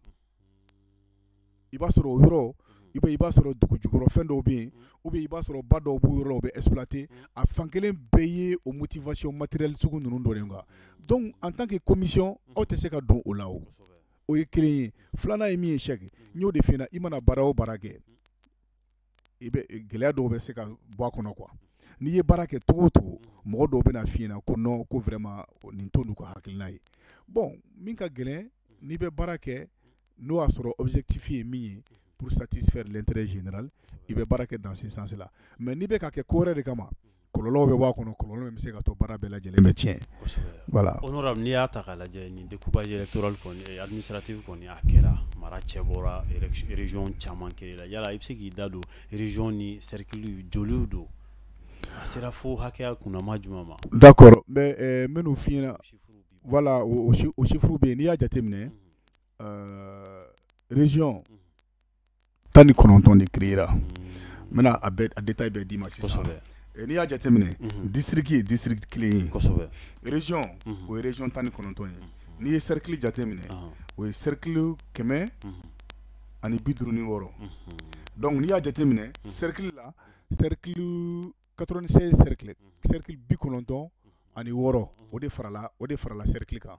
i b'a sɔrɔ o yɔrɔ i i b'a sɔrɔ dugu jukɔrɔ fɛn dɔw bɛ yen ou bien i b'a sɔrɔ ba dɔw b'u yɔrɔ la o bɛ exploiter a fan kelen bɛɛ ye o motivation matérielle sugu ninnu dɔ de ye quoi donc en tant que commission aw tɛ se ka don o la o ye kelen ye filanan ye min ye sɛki n y'o de f'i ɲɛna i mana baara o baara kɛ i bɛ gɛlɛya dɔw bɛ se ka bɔ a kɔnɔ quoi n'i ye baara kɛ cogo o cogo mɔgɔ dɔw bɛna f'i ɲɛna ko non ko vraiment nin t'olu ka hakilina ye bon min ka gɛlɛn n'i bɛ baara kɛ n'o y'a sɔrɔ objectif ye min ye pour satisfaire l'intérêt général i bɛ baara kɛ dans ce sens là mais n'i bɛ k'a kɛ ko wɛrɛ de kama kɔlɔlɔw bɛ bɔ a kɔnɔ kɔlɔlɔ min bɛ se ka to baara bɛɛ lajɛlen bɛ tiɲɛ, kosɛbɛ, voilà, honorable n'i y'a ta k'a lajɛ nin découpage électoral kɔni administratif kɔni a kɛra mara cɛ bɔra région caman kɛli la yala i bɛ se k'i da don région ni cercle joliw don a sera fo hakɛya kunnama jumɛn ma, d'accord n bɛ ɛ n bɛn'o f'i ɲɛna, voilà o chiffres bɛ yen n'i y'a jateminɛ, unhun, ɛɛ région tan ni kɔnɔntɔn de créera n bɛna a bɛɛ a détail bɛɛ d'i ma sisan kosɛbɛ eh, n'i y'a jateminɛ mhm. district ye district kelen ye kosɛbɛ région mhm. o ye région tan ni kɔnɔntɔn ye n'i ye cercle jateminɛ o ye cercle kɛmɛ mhm. ani bi duuru ni wɔɔrɔ donc n'i y'a jateminɛ cercle la cercle 96 cercle cercle bi kɔnɔntɔn ani wɔɔrɔ o de farala o de farala cercle kan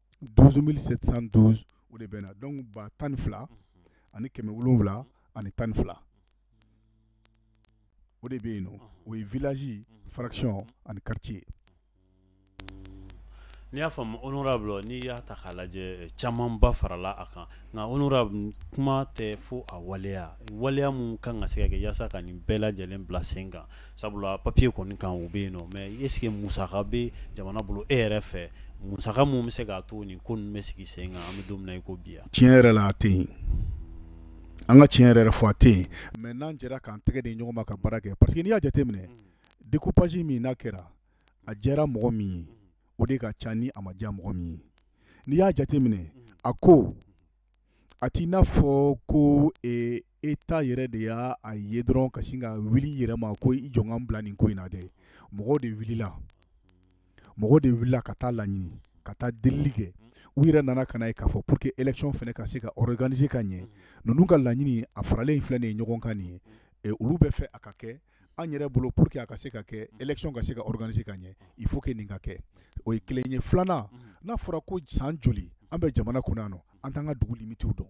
12712 o de bɛna donc ba tan ni fila ani kɛmɛ wolonwula ani tan ni fila o de bɛ yen nɔ o ye village fraction ani quartier n'i y'a faamu honorable n'i y'a ta k'a lajɛ camanba farala a kan nka honorable kuma tɛ fo a waleya waleya mun kan ka se ka kɛ yaasa ka nin bɛɛ lajɛlen bila sen kan sabula papier kɔni kan o bɛ yen nɔ mais est ce que musaka bɛ jamana bolo e yɛrɛ fɛ musaka min bɛ se k'a to nin ko ninnu bɛ sigi sen kan an bɛ don min na i ko bi yan tiɲɛ yɛrɛ la a tɛ yen an ka tiɲɛ yɛrɛ yɛrɛ fɔ a tɛ yen mais n'an jɛra k'an tɛgɛ di ɲɔgɔn ma ka baara kɛ parce que n'i y'a jateminɛ mm. découpage min n'a kɛra a diyara mɔgɔ min ye o de ka ca ni a ma diya mɔgɔ min ye n'i y'a jateminɛ mm. a ko a t'i n'a fɔ ko État yɛrɛ de y'a a ye dɔrɔn ka sin ka wuli i yɛrɛ ma ko i jɔ n ka n bila nin ko in na dɛ mɔgɔ de wulila mɔgɔ de wulila ka taa laɲini ka taa delili kɛ u yɛrɛ nana ka n'a ye k'a fɔ pour que élection fɛnɛ ka se ka organiser ka ɲɛ ninnu ka laɲini a faralen filɛ nin ye ɲɔgɔn kan nin ye olu b'a fɛ a ka kɛ an yɛrɛ bolo pour que a ka se ka kɛ élection ka se ka organiser ka ɲɛ il faut que nin ka kɛ o ye kelen ye filanan n'a fɔra ko san joli an bɛ jamana kɔnɔ yan nɔ an t'an ka dugu limitiw dɔn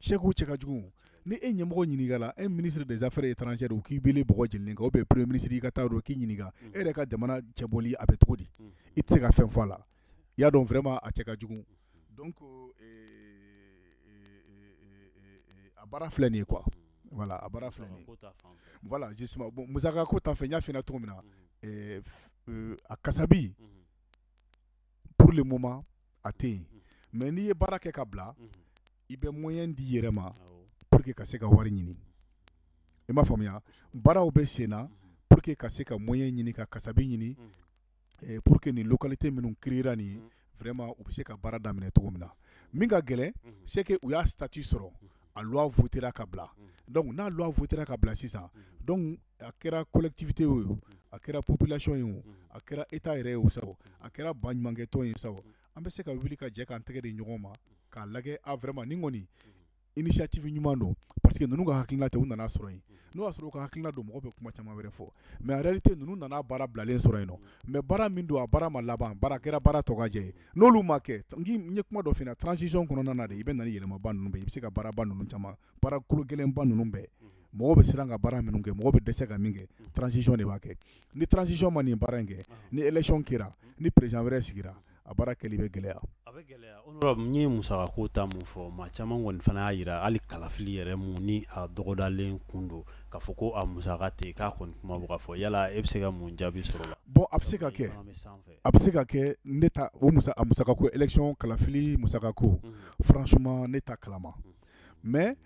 c'est que o cɛ ka jugu ni e ɲɛmɔgɔ ɲininkala e ministre des affaires étrangères u k'i wele bɔgɔ jenilen kan ou bien premier ministre i ka taa dɔ k'i ɲininka e yɛrɛ ka jamana cɛbɔli a bɛ cogo di i tɛ se ka fɛn fɔ a la i y'a dɔn vraiment a cɛ ka jugu donc a baara filɛ nin ye quoi voilà a baara filɛ nin ye voilà justement bon musaka ko ta fɛ n y'a f'i ɲɛna cogo min na a kasabi pour le moment a tɛ yen mais n'i ye baara kɛ ka bila i bɛ moyen di i yɛrɛ ma pour que ka se ka wari ɲini i m'a faamuya baaraw bɛ sen na pour que ka se ka moyen ɲini ka kasabi ɲini eh, pour que nin localité minnu créera nin ye vraiment u bɛ se ka baara daminɛ cogo min na min ka gɛlɛn c'est que u y'a statut sɔrɔ a loi votera ka bila donc n'a loi votera ka bila sisan donc a kɛra collectivité ye o a kɛra population ye o a kɛra état yɛrɛ ye o sa o a kɛra baɲumankɛtɔn ye sa o an bɛ se ka wuli ka jɛ k'an tɛgɛ di ɲɔgɔn ma k'a lajɛ a ah, vraiment nin kɔni initiative ɲuman don parce que ninnu ka hakilina tɛ u nana sɔrɔ yen n'o y'a sɔrɔ u ka hakilina don mɔgɔ bɛ kuma caman wɛrɛ fɔ mais en réalité ninnu nana baara bilalen sɔrɔ yen mais baara min don a baara ma laban baara kɛra baara tɔgɔjɛ n'olu ma kɛ n ye kuma dɔ f'i ɲɛna transition kɔnɔna na de i bɛ na ni yɛlɛmaba ninnu i bɛ se ka baaraba ninnu caman baara kolo gɛlɛnba ninnu bɛɛ mɔgɔ bɛ siran ka baara minnu kɛ mɔgɔ bɛ dɛsɛ ka min kɛ transition de b'a kɛ ni transition ma nin baara in kɛ ni élection kɛra ni président wɛrɛ sigira a baara kɛli bɛ gɛlɛya a bɛ gɛlɛya honorable n ye musaka ko ta mun fɔ maa caman kɔni fana y'a jira hali kalafili yɛrɛ mun ni a dɔgɔdalen kun don k'a fɔ ko a musaka tɛ k'a kɔni kuma bɛ ka fɔ yala e bɛ se ka mun jaabi sɔrɔ o la bon a bɛ se ka kɛ a bɛ se ka kɛ ne ta o musa a musaka ko élection kalafili musaka ko franchement ne t'a kalama mais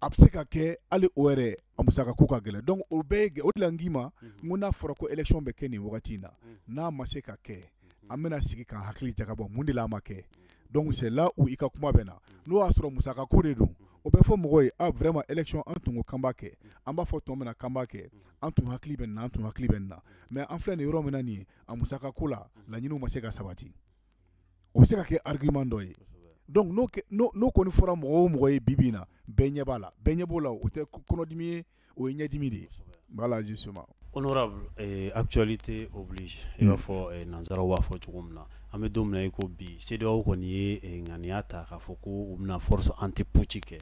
a bɛ se ka kɛ hali o yɛrɛ a musaka ko ka gɛlɛn donc o bɛɛ o de la n k'i ma ko n'a fɔra ko élection bɛ kɛ nin wagati in na n'a ma se ka kɛ an bɛna sigi k'an hakili jagabɔ mun de la a ma kɛ donc là où i ka kuma bɛ na n'o y'a sɔrɔ musaka ko de don o bɛ fɔ mɔgɔw ye vraiment élection an tun ko k'an b'a kɛ an b'a fɔ don min na k'an b'a kɛ an tun hakili bɛ nin na an tun hakili bɛ nin na mais an filɛ nin yɔrɔ min na nin ye a musaka ko la laɲini ma se ka sabati o bɛ se ka kɛ argument dɔ ye donc n'o kɔni fɔra mɔgɔ o mɔgɔ ye bi bi in na bɛɛ ɲɛ b'a la bɛɛ ɲɛ b'o la o tɛ kɔnɔdimi ye o ye ɲɛdimi de ye voilà justement honorable actualité oblige i b'a fɔ nansaraw b'a fɔ cogo min na an bɛ don min na i ko bi CEDEAO kɔni ye ŋaniya ta k'a fɔ ko u bɛna force anti-putsch kɛ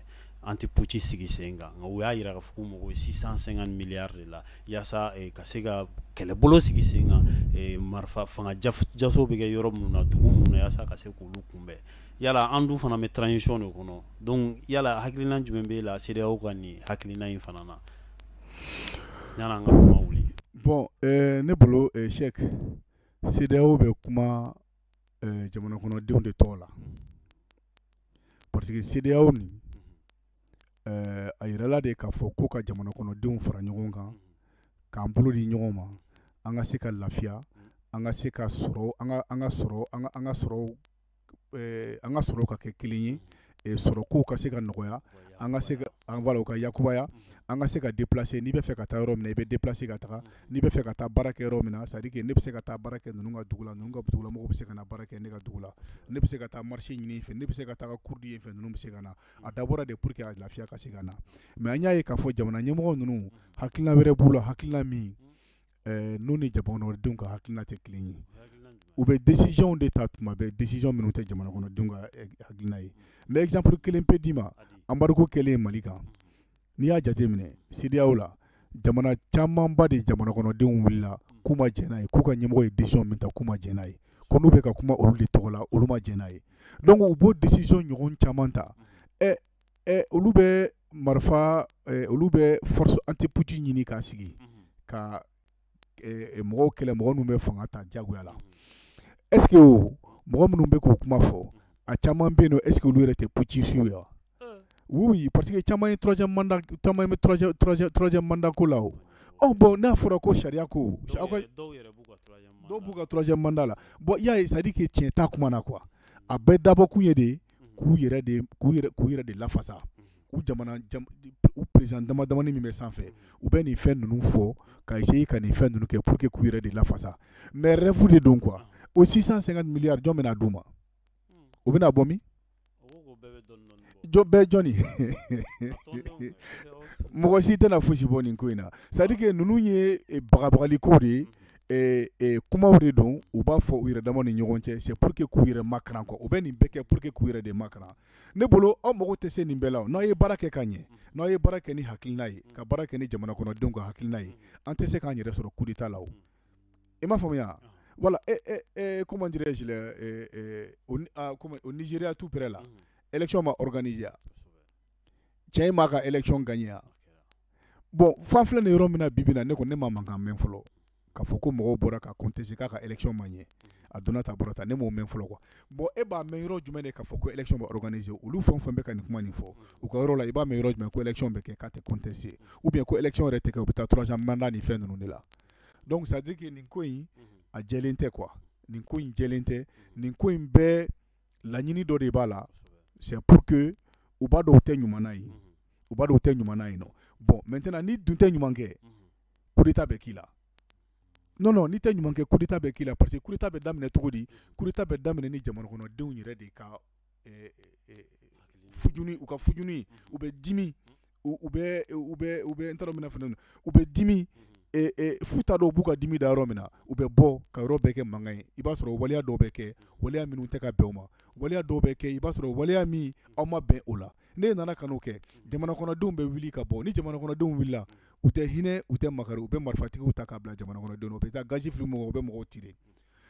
anti-putsch sigi sen kan nka u y'a jira k'a fɔ k'u mago bɛ 650 milliards de la yaasa eh, ka se ka kɛlɛbolo sigi sen kan eh, marifa fanga jaso bɛ kɛ yɔrɔ minnu na dugu minnu na yaasa ka se k'olu kunbɛn yala an dun fana bɛ transition de kɔnɔ donc yala hakilina jumɛn b'e la CEDEAO ka nin hakilina in fana na yala an ka kuma wuli bon eh, ne bolo eh, Sɛk CEDEAO bɛ kuma eh, jamana kɔnɔdenw de tɔgɔ la parce que CEDEAO nin eh, a yirala de k'a fɔ ko ka jamana kɔnɔdenw fara ɲɔgɔn kan k'an bolo di ɲɔgɔn ma an ka se ka lafiya an ka se ka sɔrɔ an ka an ka sɔrɔ an ka an ka sɔrɔ eh, an ka sɔrɔ ka kɛ kelen ye eh, sɔrɔ kow ka se ka nɔgɔya an ka se ka an voilà, u ka yakubaya an ka se ka déplacer n'i bɛ fɛ ka taa yɔrɔ min na i bɛ déplacer ka taga n'i bɛ fɛ ka taa baara kɛ yɔrɔ min na c'est à dire que ne bɛ se ka taa baara kɛ ninnu ka dugu la ninnu ka dugu la mɔgɔw bɛ se ka na baara kɛ ne ka dugu la ne bɛ se ka taa marché ɲini yen fɛ ne bɛ se ka taa cours di yen fɛ ninnu bɛ se ka na a dabɔra de pour que a lafiya ka se ka na mais an y'a ye k'a fɔ jamana ɲɛmɔgɔ ninnu hakilina wɛrɛ b'u la hakilina min n'u ni jamanadenw ka hakilina tɛ kelen ye u bɛ décision de ta tuma bɛɛ décision minnu tɛ jamana kɔnɔdenw ka hakilina ye mais exemple kelen pe d'i ma embargo kɛlen Mali kan n'i y'a jateminɛ CEDEAO la jamana camanba de jamana kɔnɔdenw wulila k'u ma jɛn n'a ye k'u ka ɲɛmɔgɔ ye décision min ta k'u ma jɛn n'a ye ko n'u bɛ ka kuma olu de tɔgɔ la olu ma jɛn n'a ye donc u b'o décision ɲɔgɔn caman ta ɛ ɛ olu bɛ marifa ɛ olu bɛ force anti-putsch ɲini k'a sigi ka ɛ mɔgɔw kɛlɛ mɔgɔ minnu bɛ fanga ta jagoya la est ce que o mɔgɔ minnu bɛ k'o kuma fɔ a caman bɛ yen nɔ est ce que olu yɛrɛ tɛ putschistes ye wa oui parce que caman ye troisième mandat caman bɛ troisième troisième troisième mandat ko la o ɔ bon n'a fɔra ko sariya ko aw ka dɔw b'u ka troisième mandat la bon i y'a ye c'est à dire que tiɲɛ t'a kuma na quoi a bɛɛ dabɔkun ye de k'u yɛrɛ de k'u yɛrɛ k'u yɛrɛ de lafasa u jamana jam di p u président damadamani min bɛ sanfɛ u bɛ nin fɛn ninnu fɔ ka essayer ka nin fɛn ninnu kɛ pour que k'u yɛrɛ de lafasa mais rêve de don quoi o 650 milliards jɔn bɛna d'u ma o bɛna bɔ min jɔ bɛɛ jɔni mɔgɔ si tɛna fosi bɔ nin ko in na c'est à dire que ninnu ye bagabagali ko de ye kumaw de don u b'a fɔ u yɛrɛ dama ni ɲɔgɔn cɛ c'est pour que k'u yɛrɛ makaran quoi u bɛ nin bɛɛ kɛ pour que k'u yɛrɛ de makaran ne bolo aw mago tɛ se nin bɛɛ la n'aw ye baara kɛ ka ɲɛ n'aw ye baara kɛ ni hakilina ye ka baara kɛ ni jamana kɔnɔdenw ka hakilina ye an tɛ se k'an yɛrɛ sɔrɔ coup d'état la i m'a faamuya voilà comment dirais-je au Nigeria tout près là élection ma organisé cɛ in m'a ka élection gagner bon f'an filɛ nin yɔrɔ min na bi bi in na ne ko ne ma mankan mɛn fɔlɔ k'a fɔ ko mɔgɔw bɔra ka contester k'a ka élection ma ɲɛ a donna tan bɔra tan ne m'o mɛn fɔlɔ quoi bon e b'a mɛn yɔrɔ jumɛn de k'a fɔ ko élection bɛ organiser olu fɛn o fɛn bɛ ka nin kuma nin fɔ u ka yɔrɔ la i b'a mɛn yɔrɔ jumɛn ko élection bɛ kɛ k'a tɛ contester ou bien ko élection yɛrɛ tɛ kɛ u bɛ taa troisième mandat ni fɛn ninnu de la donc c'est à dire que nin ko in a jɛlen tɛ quoi nin ko in jɛlen tɛ nin ko in bɛɛ laɲini dɔ de b'a la c'est pour que u b'a dɔn u tɛ ɲuman na ye u b'a dɔn u tɛ ɲuman na yen nɔ bon maintenant n'i dun tɛ ɲuman kɛ coup d'état bɛ k'i la non non n'i tɛ ɲuman kɛ coup d'état bɛ k'i la parce que coup d'état bɛ daminɛ cogo di coup d'état bɛ daminɛ ni jamanakɔnɔdenw yɛrɛ de ka eh, eh, fujuni u ka fujuni u bɛ dimi u u bɛ u bɛ u bɛ n t'a dɔn n bɛna fɛn dɔ min u bɛ dimi eh, eh, f'u t'a dɔn u b'u ka dimi da yɔrɔ min na u bɛ bɔ ka yɔrɔ bɛɛ kɛ mankan ye i b'a sɔrɔ o waleya dɔw bɛ kɛ waleya minnu tɛ ka bɛn o ma waleya dɔw bɛ kɛ i b'a sɔrɔ waleya min aw ma bɛn o la n'a nana ka kɛ jamana kɔnɔdenw bɛ wuli ka bɔ ni jamana kɔnɔdenw wulila u tɛ hinɛ u tɛ makari u bɛ marifatigiw ta ka bila jamana kɔnɔdenw u bɛ taa gaz fili mɔgɔ u bɛ mɔgɔw tirer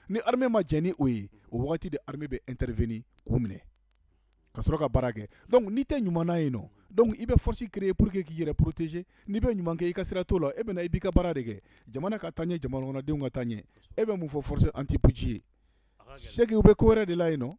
ni armée ma jɛ ni o ye o waati de armée bɛ intervenir k'u minɛ ka sɔrɔ ka baara kɛ donc n'i tɛ ɲuman na yen nɔ donc i bɛ force créer pour que k'i yɛrɛ protéger n'i bɛ ɲuman kɛ i ka sira t'o la e bɛna i b'i ka baara de kɛ jamana ka taa ɲɛ jamana kɔnɔdenw ka taa ɲɛ e bɛ mun fɔ force anti-putsch ye c'est que u bɛ ko wɛrɛ de la yen nɔ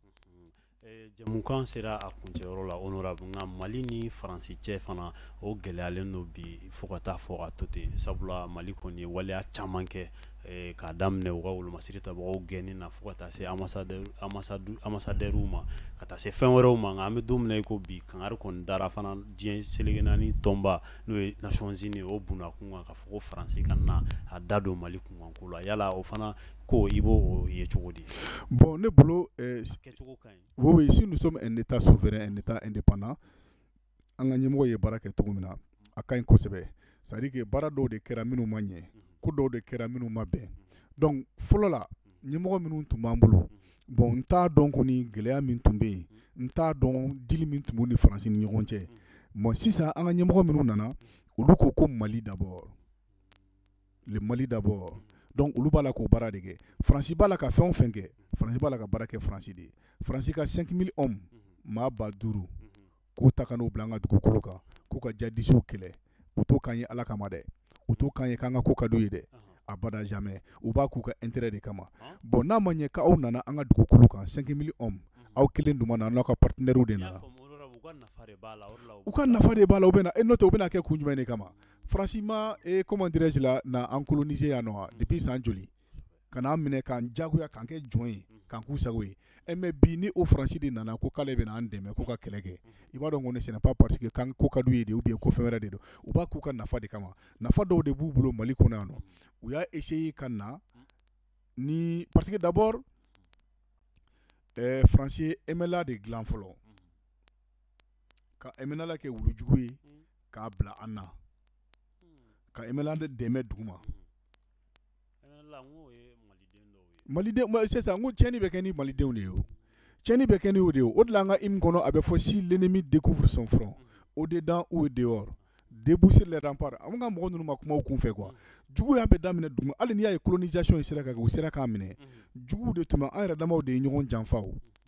Eh, jɛmukan sera a kuncɛyɔrɔ la honorable nka mali ni faransi cɛ fana o gɛlɛyalen don bi fo ka taa fɔ a to ten sabula mali kɔni ye waleya caman kɛ eh, k'a daminɛ u ka wolomasiri tabagaw gɛnni na fo ka taa se ambassadeurw ma ka taa se fɛn wɛrɛw ma nka an bɛ don min na i ko bi kangari kɔni dara fana diɲɛ seleke naani tɔnba n'o ye nations unies o bunakun kan k'a fɔ ko faransi kana a da don mali kunkanko la yala o fana ko i b'o ye cogo di bon ne bolo euh, kɛcogo ka ɲi oui oui si nous sommes un état souverain un état indépendant an ka ɲɛmɔgɔ ye baara kɛ cogo min na a ka ɲi kosɛbɛ c'est à dire que baara dɔw de kɛra minnu ma ɲɛ ko dɔw de kɛra minnu ma bɛn donc fɔlɔ la ɲɛmɔgɔ minnu tun b'an bolo bon n t'a dɔn kɔni gɛlɛya min tun bɛ yen n t'a dɔn dili min tun b'u ni faransi ni ɲɔgɔn cɛ bon sisan an ka ɲɛmɔgɔ minnu nana olu ko ko mali d'abord le Mali d'abord donc olu b'a la k'o baara de kɛ France b'a la ka fɛn o fɛn kɛ France b'a la ka baara kɛ France de ye France ka 5000 hommes maa ba duuru k'u ta ka n'u bila an ka dugukolo kan k'u ka jadisiw kɛlɛ u t'o k'an ye Ala kama dɛ u t'o k'an ye k'an ka ko ka d'u ye dɛ abada jamais u b'a k'u ka intérêt de kama bon n'a ma ɲɛ k'aw nana an ka dugukolo kan 5000 hommes aw kelen dun ma na n'aw ka partenaires de nana u ka nafa de b'a la u bɛna e n'o tɛ u bɛna kɛ kun jumɛn de kama faransi ma e comment dirais-je là na an coloniser yan nɔ depuis san joli ka n'an minɛ k'an jagoya k'an kɛ jɔn ye k'an k'u sago ye e mais bi ni o faransi de nana ko k'ale bɛna an dɛmɛ k'u ka kɛlɛ kɛ i b'a dɔn ko ce n'est pas parce que k'an ko ka d'u ye de ou bien ko fɛn wɛrɛ de don u b'a k'u ka nafa de kama nafa dɔw de b'u bolo mali kɔnɔ yan nɔ u y'a essayer ka na ni parce que d'abord eh, faransi ye MNLA de dilan fɔlɔ ka MNLA kɛ wulujugu ye k'a bila an na ka MNLA de dɛmɛ dugu ma sisan ko tiɲɛni bɛ kɛ ni malidenw de ye tiɲɛni bɛ kɛ n'o de ye o de la an ka hymne kɔnɔ a bɛ fɔ si l'ennemi découvre son front au-dedans ou dehors debout sur les remparts an ka mɔgɔ ninnu ma kuma u kun fɛ quoi juguya bɛ daminɛ dugu ma hali n'i y'a ye colonisation in sera ka kɛ u sera k'an minɛ jugu de tun an yɛrɛ damaw de ye ɲɔgɔn janfa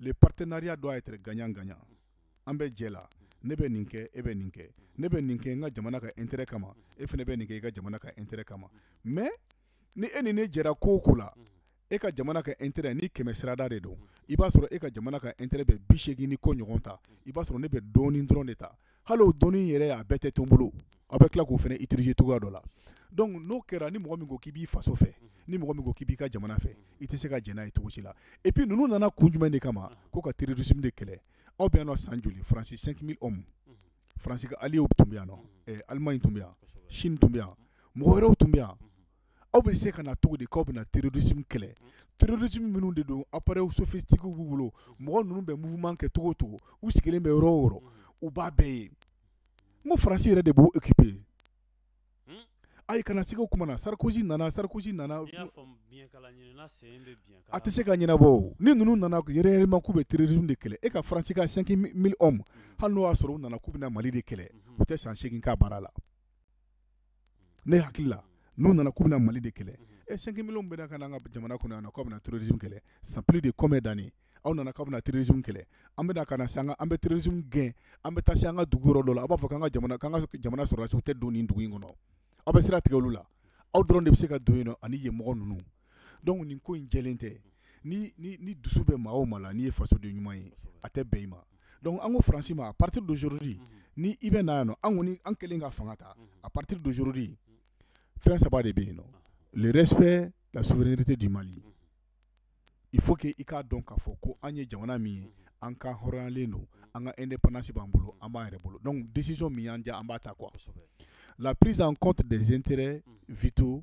le partenariat doit être gagnant gagnant an bɛ jɛ la ne bɛ nin kɛ e bɛ nin kɛ ne bɛ nin kɛ n ka jamana ka intérêt kama e fana bɛ nin kɛ i ka jamana ka intérêt kama mais ni e ni ne jɛra ko o ko la e ka jamana ka intérêt ni kɛmɛ sirada de don i b'a sɔrɔ e ka jamana ka intérêt bɛ bi seegin ni kɔ ɲɔgɔn ta i b'a sɔrɔ ne bɛ dɔɔnin dɔrɔn de ta hali o dɔɔnin yɛrɛ a bɛɛ tɛ to n bolo aw bɛ tila k'o fana utiliser cogoya dɔ la donc n'o kɛra ni mɔgɔ min ko k'i b'i faso fɛ ni mɔgɔ min ko k'i b'i ka jamana fɛ i tɛ se ka jɛn n'a ye cogo si la et puis ninnu nana kun jumɛn de kama ko ka terrorisme de kɛlɛ aw bɛ yan nɔ san joli France 5000 hommes France ka alliés tun bɛ yan nɔ Allemagne tun bɛ yan Chine tun bɛ yan mɔgɔ wɛrɛw tun bɛ yan aw bɛ se ka na cogo di k'aw bɛ na terrorisme kɛlɛ terrorisme minnu de don appareils sophistiqués b'u bolo mɔgɔ ninnu bɛ mouvement kɛ cogo o cogo u sigilen bɛ yɔrɔ o yɔrɔ u b'a bɛɛ ye n ko faransi yɛrɛ de b'u équiper ayi kana siga o kuma na Sarkozy nana Sarkozy nana a tɛ se ka ɲɛnabɔ ni ninnu nana réellement k'u bɛ terrorisme de kɛlɛ e ka faransi ka 5000 hommes hali n'o y'a sɔrɔ u nana k'u bɛ na mali de kɛlɛ u tɛ san seegin k'a baara la ne hakili la n'u nana k'u bɛna mali de kɛlɛ e eh, 5000 hommes bɛna ka na an ka jamana kɔnɔ yan nɔ k'aw bɛna terrorisme kɛlɛ c'est plus de combien d'années aw nana k'aw bɛna terrorisme kɛlɛ an bɛna ka na se an ka an bɛ terrorisme gɛn an bɛ taa se an ka dugu yɔrɔ dɔ la aw b'a fɔ k'an ka jamana k'an ka jamana sɔrɔdasiw tɛ don nin dugu in kɔnɔ aw bɛ sira tigɛ olu la aw dɔrɔn de bɛ se ka don yen nɔ ani yen mɔgɔ ninnu donc nin ko in jɛlen tɛ ni dusu bɛ maa o maa la n'i ye fasoden ɲuman ye a tɛ bɛn i ma donc an ko faransi ma à partir d'aujourd'hui ni i bɛ na yan an kɔni an kɛlen ka fanga ta à partir d'aujourd'hui fɛn saba de bɛ yen nɔ le respect la souveraineté du Mali il faut que i k'a dɔn k'a fɔ ko an ye jamana min ye an ka hɔrɔnyalen don an ka indépendance b'an bolo an b'an yɛrɛ bolo donc décision min y'an diya an b'a ta quoi la prise en compte des intérêts vitaux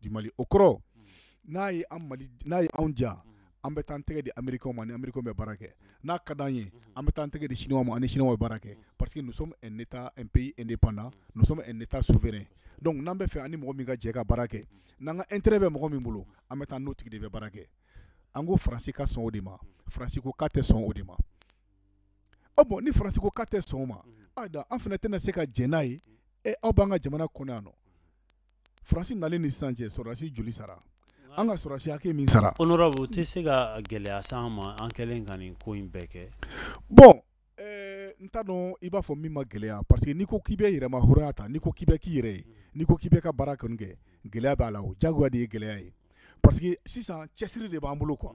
du Mali o kɔrɔ n'a ye n'a ye anw diya an bɛ taa an tɛgɛ di Américains ma ni Américains bɛ baara kɛ n'a ka di an ye an bɛ taa an tɛgɛ di Chinois ma ni Chinois bɛ baara kɛ parce que nous sommes un pays indépendant nous sommes un état souverain donc n'an bɛ fɛ an ni mɔgɔ min ka jɛ ka baara kɛ n'an ka intérêt bɛ mɔgɔ min bolo an bɛ taa n'o tigi de bɛ baara kɛ an ko faransi ka sɔn o de ma faransi ko k'a tɛ sɔn o de ma ah bon ni faransi ko k'a tɛ sɔn o ma an fana tɛna se ka jɛn n'a ye e aw b'an ka jamana kɔnɔ yan nɔ Faransi nalen ni sisan cɛ sɔrɔdasi joli sara an ka sɔrɔdasi hakɛ min sara ko u tɛ se ka gɛlɛya sa an ma an kɛlen ka nin ko in bɛɛ kɛ bon n t'a dɔn i b'a fɔ min ma gɛlɛya parce que n'i ko k'i bɛ yɛrɛmahɔrɔnya ta n'i ko k'i bɛ k'i yɛrɛ ye n'i ko k'i bɛ ka baara kɔni kɛ gɛlɛya b'a la o jagoya de ye gɛlɛya ye parce que sisan cɛsiri de b'an bolo quoi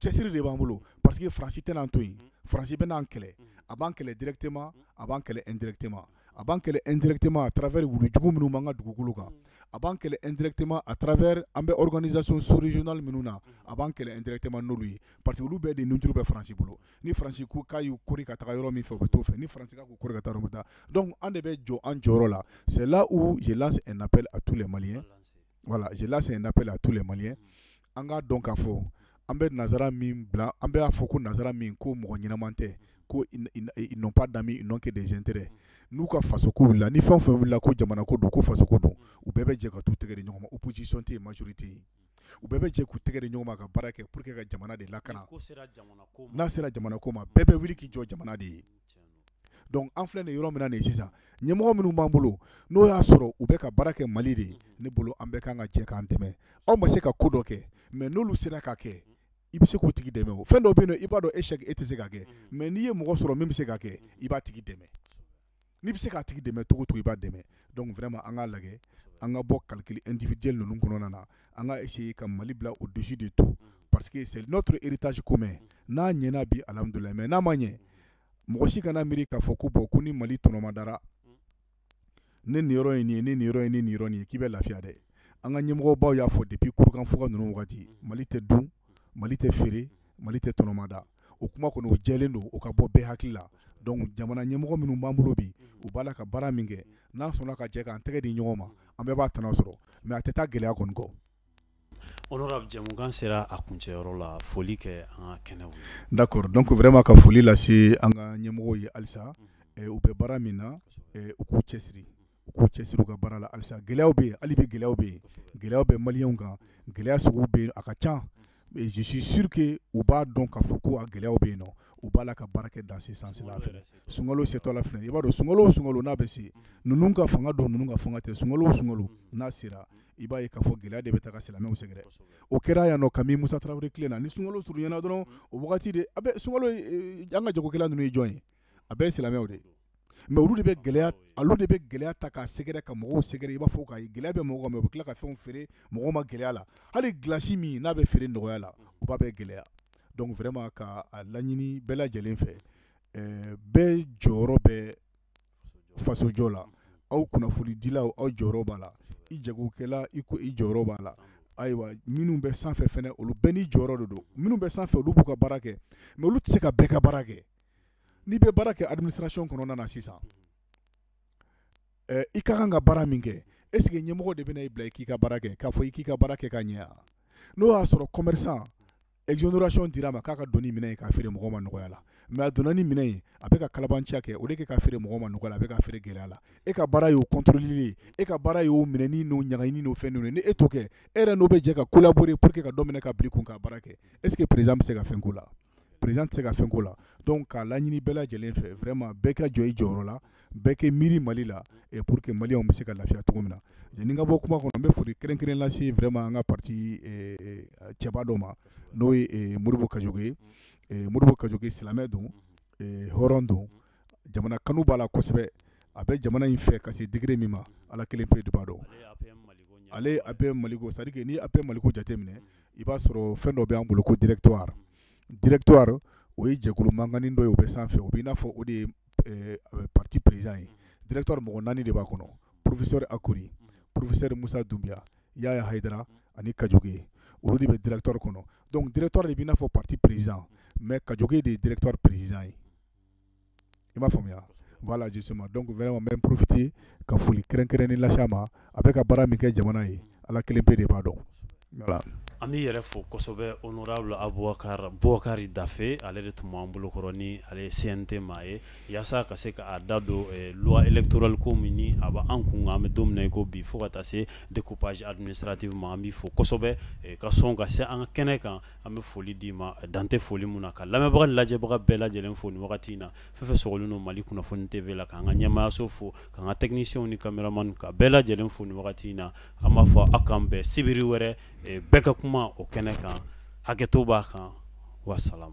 cɛsiri de b'an bolo parce que faransi tɛn'an to yen mm. faransi bɛn'an kɛlɛ mm. a b'an kɛlɛ directement mm. a b'an kɛlɛ indirectement a b'an kɛlɛ indirectement à travers wulujugu minnu b'an ka dugukolo kan a b'an kɛlɛ indirectement à travers an bɛ organisation sous-régionale minnu na a b'an kɛlɛ indirectement n'olu ye parce que olu bɛɛ de nujuru bɛ faransi bolo ni faransi ko k'a y'u kori ka taga yɔrɔ min fɛ u bɛ t'o fɛ ni faransi k'a k'u kori ka taa yɔrɔ min taa donc an de bɛ jɔ an jɔyɔrɔ la c'est là où je lance un appel à tous les maliens voilà je lance un appel à tous les maliens an k'a dɔn k'a fɔ an bɛ nansara min bila an bɛ a fɔ ko nansara min ko mɔgɔ ɲɛnaman tɛ ko ils n'ont pas d'amis ils n'ont que des intérêts n'u ka faso ko wulila ni fɛn o fɛn wulila ko jamana ko don ko faso ko don u bɛɛ bɛ jɛ ka t'u tɛgɛ di ɲɔgɔn ma opposition tɛ yen majorité yen u bɛɛ bɛ jɛ k'u tɛgɛ di ɲɔgɔn ma ka baara kɛ pour que ka jamana de lakana n'a sera jamana ko ma bɛɛ bɛ wuli k'i jɔ jamana de ye Donc an filɛ nin yɔrɔ min na nin sisan ɲɛmɔgɔ minnu b'an bolo n'o y'a sɔrɔ u bɛ ka baara kɛ mali de ye ne bolo an bɛɛ ka kan ka jɛ k'an dɛmɛ aw ma se ka ko dɔ kɛ mais n'olu sera k'a kɛ i bɛ se k'o tigi dɛmɛ o fɛn dɔ bɛ yen i b'a dɔn e e tɛ se k'a kɛ mais n'i ye mɔgɔ sɔrɔ min bɛ se k'a kɛ i b'a tigi dɛmɛ n'i bɛ se k'a tigi dɛmɛ cogo o cogo i b'a dɛmɛ donc vraiment an k'a lajɛ an ka bɔ calcul individuel ninnu kɔnɔna na an ka essayer ka mali bila au-dessus de tout parce que c'est notre héritage commun n'a ɲɛna bi alhamdoulilahi mais n'a ma ɲɛ mɔgɔ si kana miiri k'a fɔ ko bon ko ni mali tɔnɔmadara ne niyɔrɔ ye nin ye ne niyɔrɔ ye ne niyɔrɔ nin ye k'i bɛ lafiya dɛ an ka ɲɛmɔgɔbaw y'a fɔ depuis kurukanfuga ninnu wagati mali tɛ dun mali tɛ feere mali tɛ tɔnɔmada o kuma kɔni o jɛlen don o ka bɔ bɛɛ hakili la donc jamana ɲɛmɔgɔ minnu b'an bolo bi u b'a la ka baara min kɛ n'an sɔnna ka jɛ k'an tɛgɛ di ɲɔgɔn ma an bɛɛ b'a tɔnɔ sɔrɔ mais a tɛ taa gɛlɛya kɔni kɔ honorable jɛmukan sera a kuncɛyɔrɔ la foli kɛ an ka kɛnɛw d'accord donc vraiment ka foli lase an ka ɲɛmɔgɔw ye halisa u bɛ baara min na u k'u cɛsiri u k'u cɛsiri u ka baara la halisa gɛlɛyaw bɛ yen hali bi gɛlɛyaw bɛ yen gɛlɛyaw bɛ maliyɛnw kan gɛlɛya sugu bɛ yen a ka ca mais je suis sûr que u b'a dɔn k'a fɔ ko a gɛlɛyaw bɛ yen nɔ u b'a la ka baara kɛ dans ce sens là fɛnɛ sunkalo setɔ la fɛnɛ i b'a dɔn sunkalo o sunkalo n'a bɛ se ninnu ka fanga don ninnu ka fanga tɛ sunkalo o sunkalo n'a sera i b'a ye k'a fɔ gɛlɛya de bɛ taga silamɛw sɛgɛrɛ o kɛra yan nɔ kabini Musa Tarawele tile na ni sunkalo surunyana dɔrɔn o wagati de a bɛ sunkalo an ka jagokɛla ninnu ye jɔn ye a bɛɛ ye silamɛw de ye mais olu de bɛ gɛlɛya olu de bɛ gɛlɛya ta k'a sɛgɛrɛ ka mɔgɔw sɛgɛrɛ i b'a fɔ ka gɛlɛya bɛ mɔgɔ kan mais u bɛ tila ka fɛnw feere mɔgɔ ma gɛlɛya la hali gilasi min n'a bɛ feere nɔgɔya la u b'a bɛɛ gɛlɛya donc vraiment ka a laɲini bɛɛ lajɛlen fɛ ɛɛ bɛɛ jɔyɔrɔ bɛ fasojɔ la aw kunnafonidilaw aw jɔyɔrɔ b'a la i jagokɛla i ko i jɔyɔrɔ b'a la ayiwa minnu bɛ sanfɛ fɛnɛ olu bɛɛ n'i jɔyɔrɔ de don minnu bɛ sanfɛ olu b'u ka baara kɛ mais olu tɛ se ka bɛɛ ka baara kɛ n'i bɛ baara kɛ administration kɔnɔna na sisan i ka kan ka baara min kɛ est ce que ɲɛmɔgɔ de bɛna i bila i k'i ka baara kɛ k'a fɔ i k'i ka baara kɛ ka ɲɛ n'o y'a sɔrɔ commerçant exonération dira a ma k'a ka don ni minɛn ye k'a feere mɔgɔ ma nɔgɔya la mais a donna ni minɛn ye a bɛ ka kalabanciya kɛ au lieu que k'a feere mɔgɔ ma nɔgɔya la a bɛ k'a feere gɛlɛya la e ka baara y'o contrôler e ka baara y'o minɛni n'o ɲagaɲini n'o fɛn ninnu ni e t'o kɛ e yɛrɛ n'o bɛ jɛ ka collaborer pour que ka dɔ minɛ ka bila i kun ka baara kɛ est ce que président bɛ se ka fɛn k'o la président tɛ se ka fɛn k'o la donc k'a laɲini bɛɛ lajɛlen fɛ vraiment bɛɛ ka jɔ i jɔyɔrɔ la bɛɛ k'i miiri mali la et pour que maliyɛnw bɛ se ka lafiya cogo min na yanni n ka bɔ kuma kɔnɔ n bɛ foli kɛrɛnkɛrɛn lase vraiment an ka parti cɛba dɔ ma n'o ye modibo kadjoké ye modibo kadjoké silamɛ don hɔrɔn don jamana kanu b'a la kosɛbɛ a bɛ jamana in fɛ ka se degré min ma ala kelen pe de b'a dɔn ale ye apm maliko c'est à dire que n'i ye apm maliko jateminɛ i b'a sɔrɔ fɛn dɔ bɛ an bolo ko directoire directoire o ye jɛkulu mankannin dɔ ye o bɛ sanfɛ o bɛ i n'a fɔ o de ye eh, parti président ye directoire mɔgɔ naani de b'a kɔnɔ professeur akori professeur musa dunbiya yaya hayidara ani kadjoké olu de bɛ directoire kɔnɔ donc directoire de bɛ i n'a fɔ parti président mais kadjoké de ye directoire président ye i m'a faamuya voilà justement donc vraiment n bɛ profiter ka foli kɛrɛnkɛrɛnnen lase a ma a bɛ ka baara min kɛ jamana ye ala kelen pe de b'a dɔn voilà an b'i yɛrɛ fo kosɛbɛ honorable abubakari bubakari dafe ale de tun b'an bolokɔrɔ ni ale ye cnt maa ye yaasa ka se k'a da don loi électorale ko min n'a bɛ an kun an bɛ don min na i ko bi fo ka taa se découpage administratif ma an b'i fo kosɛbɛ ka sɔn ka se an ka kɛnɛ kan an bɛ foli d'i ma dan tɛ foli min na ka lamɛnbaga lajɛbaga bɛɛ lajɛlen fo nin wagati in na fɛn fɛn sɔgɔlen don mali kunnafoni tv la k'an ka ɲɛmaayaso fo k'an ka techniciens ni caméraman ka bɛɛ lajɛlen fo nin wagati in na an b'a fɔ aw k'an bɛn sibiri wɛrɛ bɛɛ ka kuma o kɛnɛ kan hakɛto b'a kan wasalam